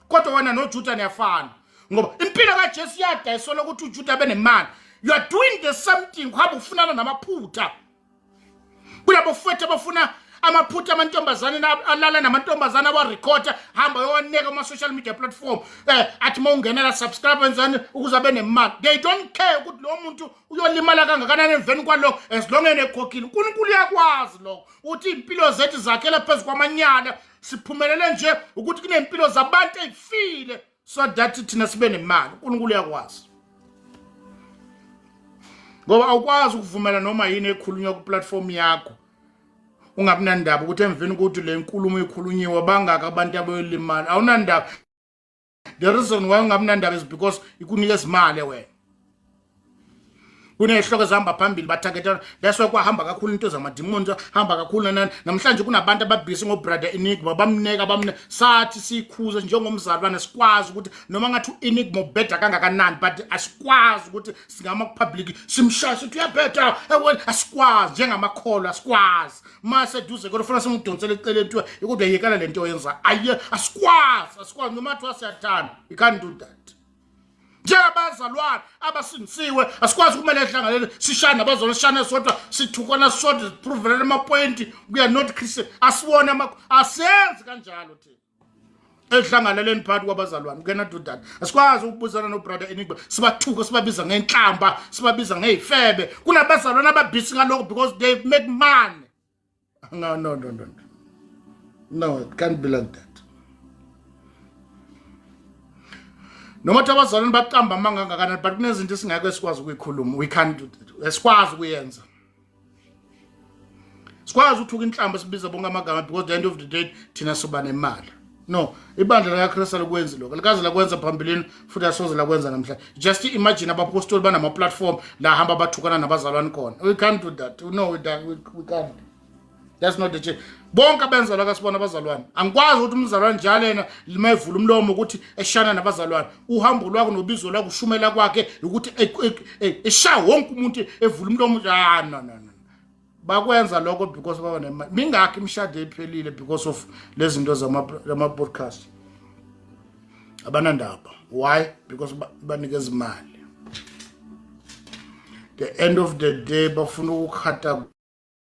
kodwa wena noJuda niyafana ngoba impilo kaJesu yadayisola ukuthi uJuda benemali you are doing the same thing uhamba ufunana namaphutha kulabo fethu abafuna amaphutha amantombazane alala namantombazane awarecorda hamba yowaneka kuma-social media platform um athi uma ungenela subscribe enzani ukuze abe nemali they don't care ukuthi lowo muntu uyolimala kangakanani emveni kwaloko as long enekhokhile unkulunkulu uyakwazi lokho uthi iy'mpilo zethu zakhela phezu kwamanyala siphumelele nje ukuthi kuney'mpilo zabantu ey'file so that thina sibe nemali uNkulunkulu uyakwazi ngoba awukwazi ukuvumela noma yini ekhulunywa ku platform yakho ungabinandaba ukuthi emveni ukuthi le nkulumo ikhulunyiwe bangaki abantu abayolimali awunandaba the reason why ungabinandaba is because ikunike izimali wena kunezihloko ezihamba phambili bathakethana that's why kwahamba kakhulu into zamademons hamba kakhulu nanani namhlanje kunabantu ababhisi ngobrother enigma bamneka bamne sathi sikhuze njengomzalwane sikwazi ukuthi noma ngathi u-enigma ubheda kangakanani but asikwazi ukuthi singama kupublic simshaya sithi uyabheda ewe asikwazi njengamakholwa asikwazi ma seduze kodwa funa simudonsele ecele kuthiwa ikube yekala le nto yenza aye asikwazi asikwazi noma kuthiwa siyathanda you can't do that njengabazalwane abasindisiwe asikwazi kumele ehlanganele sishane nabazalwane sishane sodwa sithukana sodwa sipruvelele amapointi kuya not christian asiwone asenzi kanjalo thina ehlanganeleni phakathi kwabazalwane you cannot do that asikwazi ukubuzana nobrother enigba sibathuke sibabiza ngenhlamba sibabiza ngey'febe kunabazalwane ababhisi ngalokho because they make money No, no, no, no. No, it can't be like that. noma ukuthi abazalwane baqamba amanga angakanani but kunezinto esingeke sikwazi ukuyikhuluma we can't esikwazi ukuyenza sikwazi ukuthuka inhlamba sibiza bonke amagama because the end of the day thina soba nemali no ibandla lakaKristu alikwenzi lokho likaze lakwenza phambilini futhi asoze lakwenza namhlanje just imagine abapostoli banama-platform la hamba bathukana nabazalwane khona we can't do that no we, don't, we, we can't that's not the change bonke abenza la kasibona abazalwane angikwazi ukuthi umzalwane njalo yena lima evula umlomo ukuthi eshana nabazalwane uhambo lwakho nobizo lwakho ushumela kwakhe ukuthi eshaye wonke umuntu evula umlomo ah no no no bakwenza lokho because baba nemali mingakhi imishado ephelile because of lezinto zama podcast abanandaba why because banikeza imali the end of the day bafuna ukukhata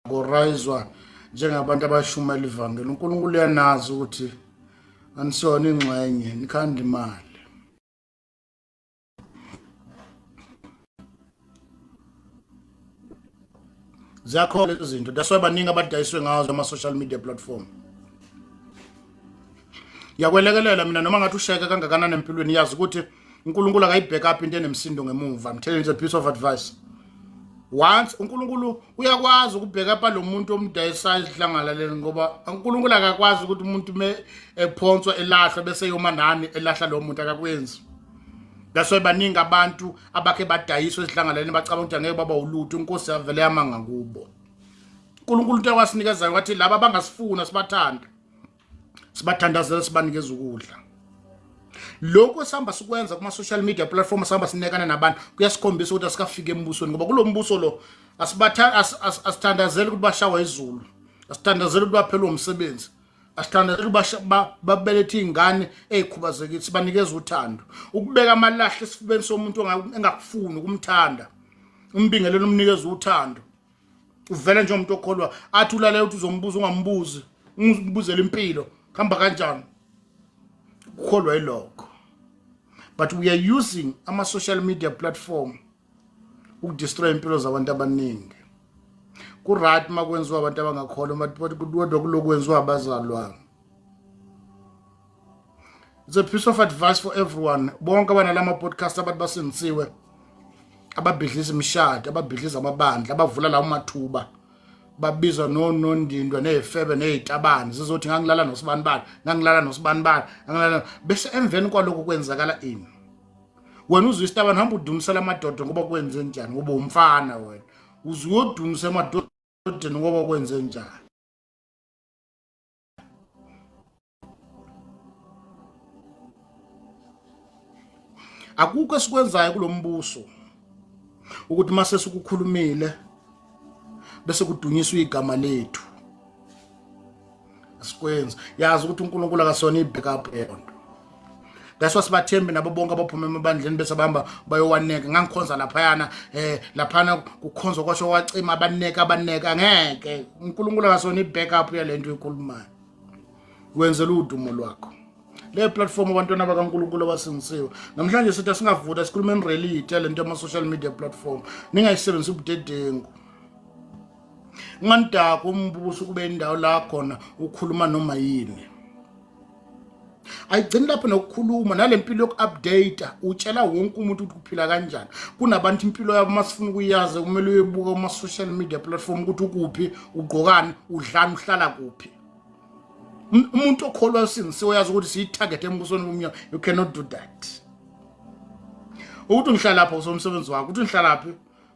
gorayizwa njengabantu abashumayela ivangeli unkulunkulu uyanazi ukuthi anisiyona ingxenye nikhanda imali ziyakhona lezi zinto that's why baningi abadayiswe ngazo ama-social media platform yakwelekelela mina noma ngathi usheke kangakanani empilweni yazi ukuthi unkulunkulu akayibhek up into enemsindo ngemuva i'm telling you a piece of advice once unkulunkulu uyakwazi ukubheka up lo muntu omdayisayo isidlangalaleli ngoba unkulunkulu akakwazi ukuthi umuntu uma ephonswa elahlwa bese yoma nani elahla lowo muntu akakwenzi that's why baningi abantu abakhe badayiswa ezidlangaleni bacabanga ukuthi angeke baba ulutho inkosi yavele yamanga kubo uNkulunkulu into awasinikezayo wathi laba abangasifuna sibathanda sibathandazela sibanikeza ukudla lokho sihamba sikwenza kuma social media platform sihamba sinekana nabantu kuyasikhombisa ukuthi asikafike embusweni ngoba kulo mbuso lo asithandazeli ukuthi bashawa izulu asithandazeli ukuthi baphelwe umsebenzi asithandazela ukuba babelethe iy'ngane ey'khubazekile sibanikeza uthando ukubeka amalahle esifubeni somuntu engakufuni ukumthanda umbingelelo umnikeza uthando uvele njengomuntu okholwa athi ulalela ukuthi uzombuza ungambuzi umbuzela impilo kuhamba kanjani kukholwa yilokho but we are using ama-social media platform ukudestroy impilo zabantu abaningi kuright uma kwenziwa abantu abangakholwa but kodwa kulokwenziwa abazalwane it's a piece of advice for everyone bonke abanalama podcast abantu basindisiwe ababhidliza imishado ababhidliza amabandla abavula lawo mathuba babizwa nonondindwa nezifebe nezitabani zizothi ngangilala nosibani bani ngangilala nosibani bani ngangilala bese emveni kwaloko kwenzakala ini wena uzwe isitabane hamba udumisela amadoda ngoba kwenze njani ngoba umfana wena uze uyodumisa emadodeni ngoba kwenze njani akukho esikwenzayo kulo mbuso ukuthi uma sesikukhulumile bese kudunyiswa igama lethu asikwenzi yazi ukuthi uNkulunkulu akasona ibackup yonto that's why sibathembi nabo bonke abaphuma emabandleni bese bahamba bayowaneka ngangikhonza laphayana eh laphana kukhonza kwasho wacima abaneka abaneka ngeke uNkulunkulu akasona ibackup yalento ikhulumayo wenzela udumo lwakho le platform abantwana bakaNkulunkulu abasindisiwe namhlanje sithi asingavota sikhulumeni reality yale nto yama-social media platform ningayisebenzisi ubudedengu unganidaki umbuso kube indawo la khona ukhuluma noma yini ayigcini lapho nokukhuluma nale mpilo yoku-update utshela wonke umuntu ukuthi kuphila kanjani kunabantu impilo yabo uma sifuna ukuyazi kumele uyebuka kuma-social media platform ukuthi ukuphi ugqokani udlani uhlala kuphi umuntu okholwa usindisiwe uyazi ukuthi siyi-target embusweni womnyama you cannot do that ukuthi ngihlala lapho somsebenzi wakho ukuthi ngihlalaphi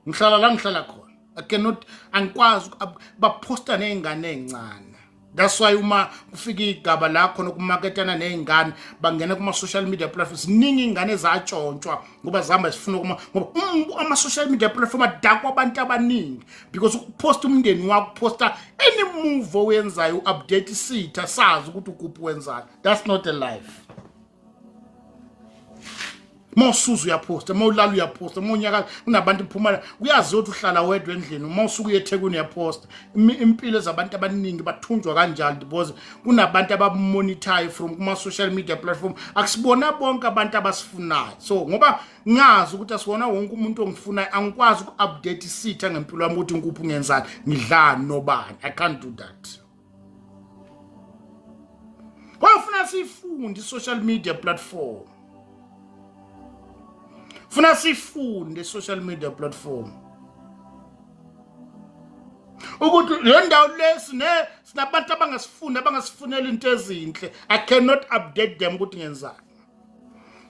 ngihlala la ngihlala khona i cannot angikwazi baphosta ney'ngane ey'ncane that's why uma kufika igaba la khona kumaketana ney'ngane bangena kuma-social media platforms ziningi iy'ngane zatshontshwa ngoba zihamba zifuna kuma ngoba um, ama-social media platform adakwa abantu abaningi because ukuposta umndeni wakho uposta any move owenzayo u-update isitha sazi ukuthi ukuphi wenzayo that's not a life uma usuze uyaphosta uma ulala uyaphosta uma unyaka unabantu phumala uyazi ukuthi uhlala wedwa endlini uma usuke uyethekwini uyaphosta impilo zabantu abaningi bathunjwa kanjalo because kunabantu abamonithayo from kuma-social media platform akusibona bonke abantu abasifunayo so ngoba ngazi ukuthi asiwona wonke umuntu ongifunayo angikwazi uku-update isitha ngempilo yami ukuthi ngikuphi ngenzani ngidlani nobani i can't do that kodwa funa siyifunde i-social media platform funa siyifunde i-social media platform ukuthi le ndawo le sinabantu abangasifuni abangasifunela into ezinhle i cannot update them ukuthi ngenzani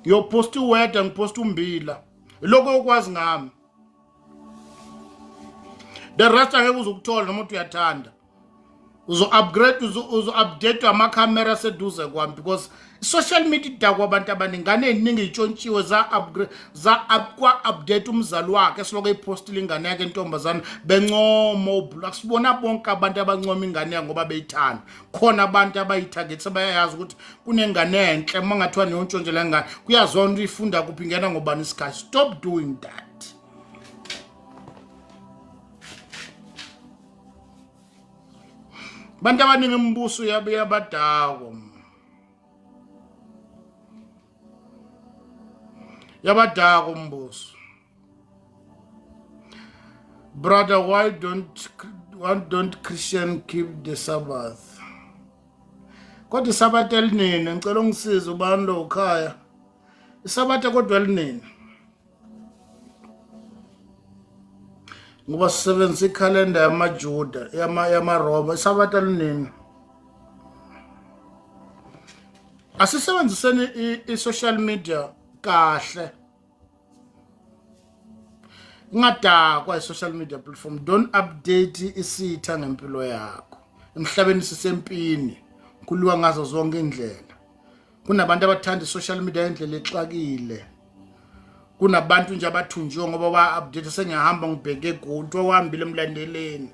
ngiyophosta iweda ngiphosta umbila ilokho okwazi ngami the rest angeke uzukuthola noma uthi uyathanda uzo-upgrade uzo-update amakhamera aseduze kwami because social media idakwa abantu abaningi ingane eziningi itshontshiwe kwa-update umzali wakhe esiloko eyipostile ingane yakhe entombazane bencoma ubhulu akusibona bonke abantu abancoma ingane yakhe ngoba beyithanda khona abantu abayithagethi sebayayazi ukuthi kunengane enhle uma ngathiwa niyontshontshe le ngane kuyaziwa into ifunda kuphi ingena ngobani isikhathi stop doing that abantu abaningi imibuso yabadakwa yabadaka umbuso brother why don't why don't christian keep the sabbath kodwa isabatha elinini ngicela ungisize ubani lo ukhaya isabatha kodwa elinini ngoba sisebenzisa ikhalenda yamajuda yamaroma isabatha lunini asisebenziseni i-social media kahle ungadakwa i-social media platform don't update isitha ngempilo yakho emhlabeni sisempini kuliwa ngazo zonke indlela kunabantu abathanda i-social media indlela exakile kunabantu nje abathunjiwe ngoba ba-update sengiyahamba ngibheke eguntu owahambile emlandeleni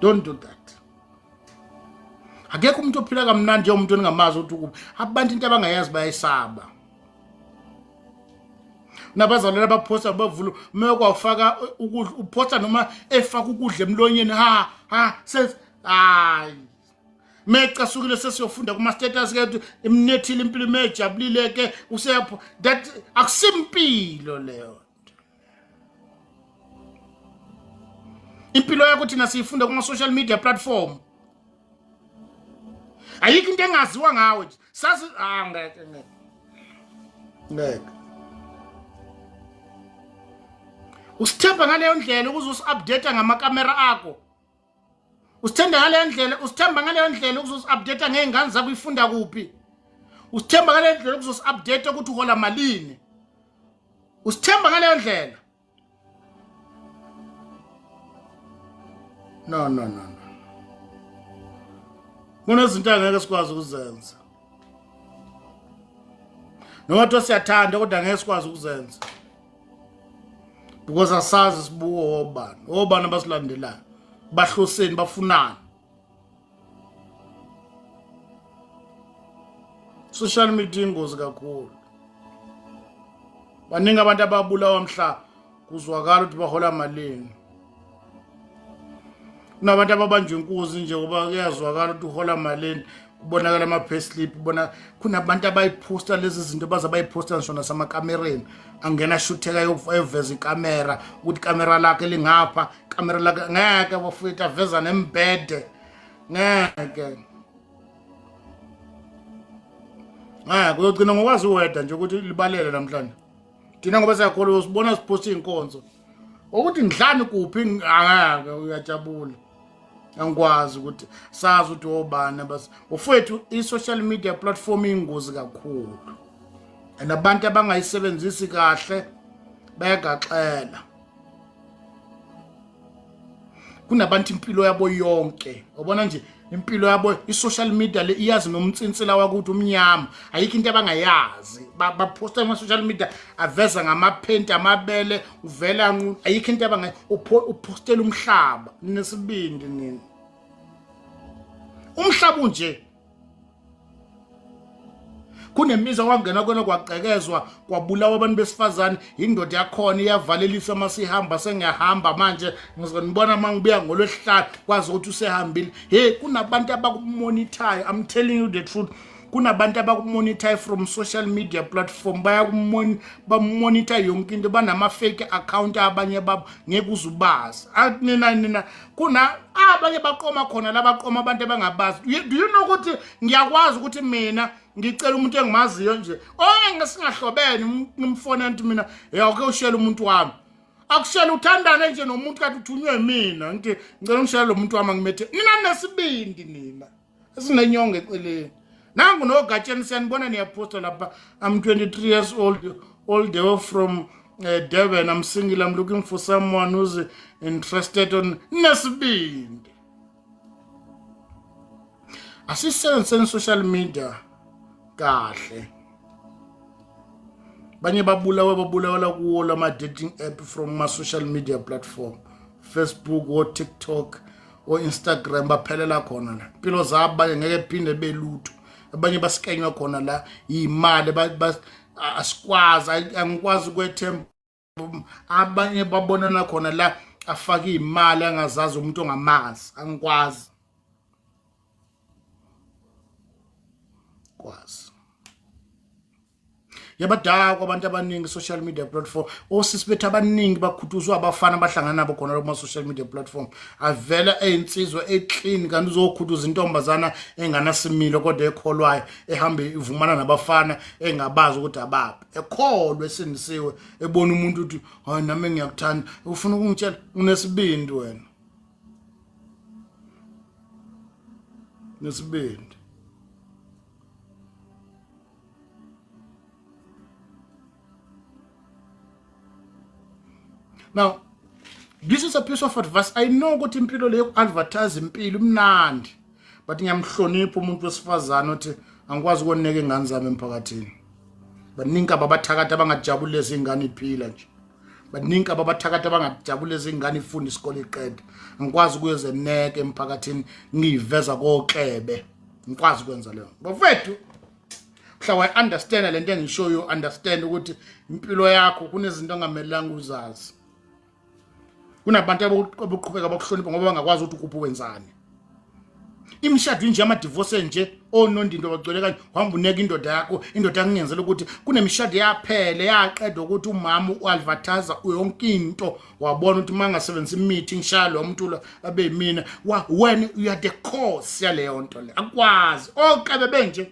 don't do that akekho umuntu ophila kamnandi njengomuntu oningamazi ukuthi ukuba abantu into abangayazi bayayisaba nabazalwane abaphosta bavula uma kwafaka ukudla uphosta noma efaka ukudla emlonyeni ha ha hayi mecasukile sesiyofunda kuma status kethu imnethile impilo imejabulile ke useyapho that akusimpilo leyo impilo yakho thina siyifunda kuma social media platform ayikho into engaziwa ngawe sazi ah ngeke ngeke ngeke usithemba ngaleyo ndlela ukuze usi-update ngamakamera akho usithembe ngaleyo ndlela usithemba ngaleyo ndlela ukuzosi-update ngey'ngane zakho ifunda kuphi usithemba ngaleyo ndlela ukuzosi-update ukuthi uhola malini usithemba ngaleyo ndlela no no no no kunezinto angeke sikwazi ukuzenza noma kuthiwa siyathanda kodwa ngeke sikwazi ukuzenza because asazi sibuko wobani wobani abasilandelayo bahloseni bafunani social media ingozi kakhulu baningi abantu ababulawa mhla kuzwakala ukuthi bahola malini kunabantu ababanjwa inkunzi nje ngoba kuyazwakala ukuthi uhola malini kubonakala ama-payslip bona kunabantu abayiphosta lezi zinto baze bayiphosta ngisho nasemakamereni angena ashutheka ayoveza ikamera ukuthi ikamera lakhe lingapha ikamera lakhe ngeke bafowethu aveza nembhede ngeke ngeke uyogcina ngokwazi uweda nje ukuthi libalele namhlanje thina ngoba siyakholwa sibona siphosta iy'nkonzo ukuthi ngihlani kuphi angeke uyajabula angikwazi ukuthi sazi ukuthi wobani abas ufethu i-social media platform iyingozi kakhulu and abantu abangayisebenzisi kahle bayagaxela kunabantu impilo yabo yonke ubona nje impilo yabo i-social media le iyazi nomnsinsila wakuthi umnyama ayikho into abangayazi baphosta ba kuma-social media aveza ngamaphenti amabele uvela nqunu ayikho into abanga uphostela umhlaba nesibindi nini umhlaba unje kunemizi okwangena kwena kwagqekezwa kwabulawa abantu besifazane indoda yakhona iyavalelisa uma sihamba sengiyahamba manje ngizonibona uma ngibuya ngolwesihlanu kwazi ukuthi usehambile he kunabantu abakumonithayo i'm telling you the truth kunabantu abakumonithayo from social media platform bamonitha yonke into banama-fake account abanye babo ngeke uzubazi nina nina kuna abanye baqoma khona labaqoma abantu abangabazi do you know ukuthi ngiyakwazi ukuthi mina ngicela umuntu engimaziyo nje oyenge singahlobene ngimfone nti mina yawuke ushela umuntu wami akushela uthandane nje nomuntu kati uthunywe mina ngithi ngicela ungishela lo muntu wami angimethe nina nesibindi nina sinenyonga eceleni nangu nogatsheni siyanibona niyaphosta lapha i'm 23 years old all the way from uh, durban i'm single i'm looking for someone who's interested on nesibindi asisebenziseni social media kahle banye babulawe babulawela kuwo lama-dating app from ma-social media platform facebook otiktok o-instagram baphelela khona la mpilo zabo abanye ngeke phinde belutho abanye basikenywa khona la yimali asikwazi angikwazi ukwethemba abanye babonana khona la afake imali angazazi umuntu ongamazi angikwazi kwazi yabadakwa abantu abaningi social media platform osisi bethu abaningi bakhuthuzwa abafana abahlangana nabo khona lokuma social media platform avela eyinsizwa eclean kanti uzokhuthuza intombazana enganasimilo kodwa ekholwayo ehamba ivumana nabafana engabazi ukuthi ababi ekholwe esindisiwe ebona umuntu uthi hayi nami ngiyakuthanda ufuna ukungitshela unesibindi wena nesibindi now this is a piece of advice i know ukuthi impilo leyo ku-advertise impilo imnandi but ngiyamhlonipha umuntu wesifazane othi angikwazi ukoneka ingane zami emphakathini baningi ababathakathi abangajabuli lezi ngane iphila nje baningi ababathakathi abangajabuli lezi ngane ifunda isikole iqeda ngikwazi ukuyozeneka emphakathini ngiyiveza koklebe ngikwazi ukwenza leyo ngofethu mhla wayi understand lento engishoyo understand ukuthi impilo yakho kunezinto ongamelanga uzazi kunabantu aboqhubeka bakuhlonipha ngoba bangakwazi ukuthi ukuphi wenzani imishado inje amadivorce nje onondindwa bagcwele kanje uhamba uneka indoda yakho indoda yakungenzela ukuthi kunemishado yaphele yaqeda ukuthi umama u-advertise yonke into wabona ukuthi uma ngasebenzisa imithi ngishaya lo mntu lo abe yimina wena you are the cause yaleyo nto le akwazi oqebe benje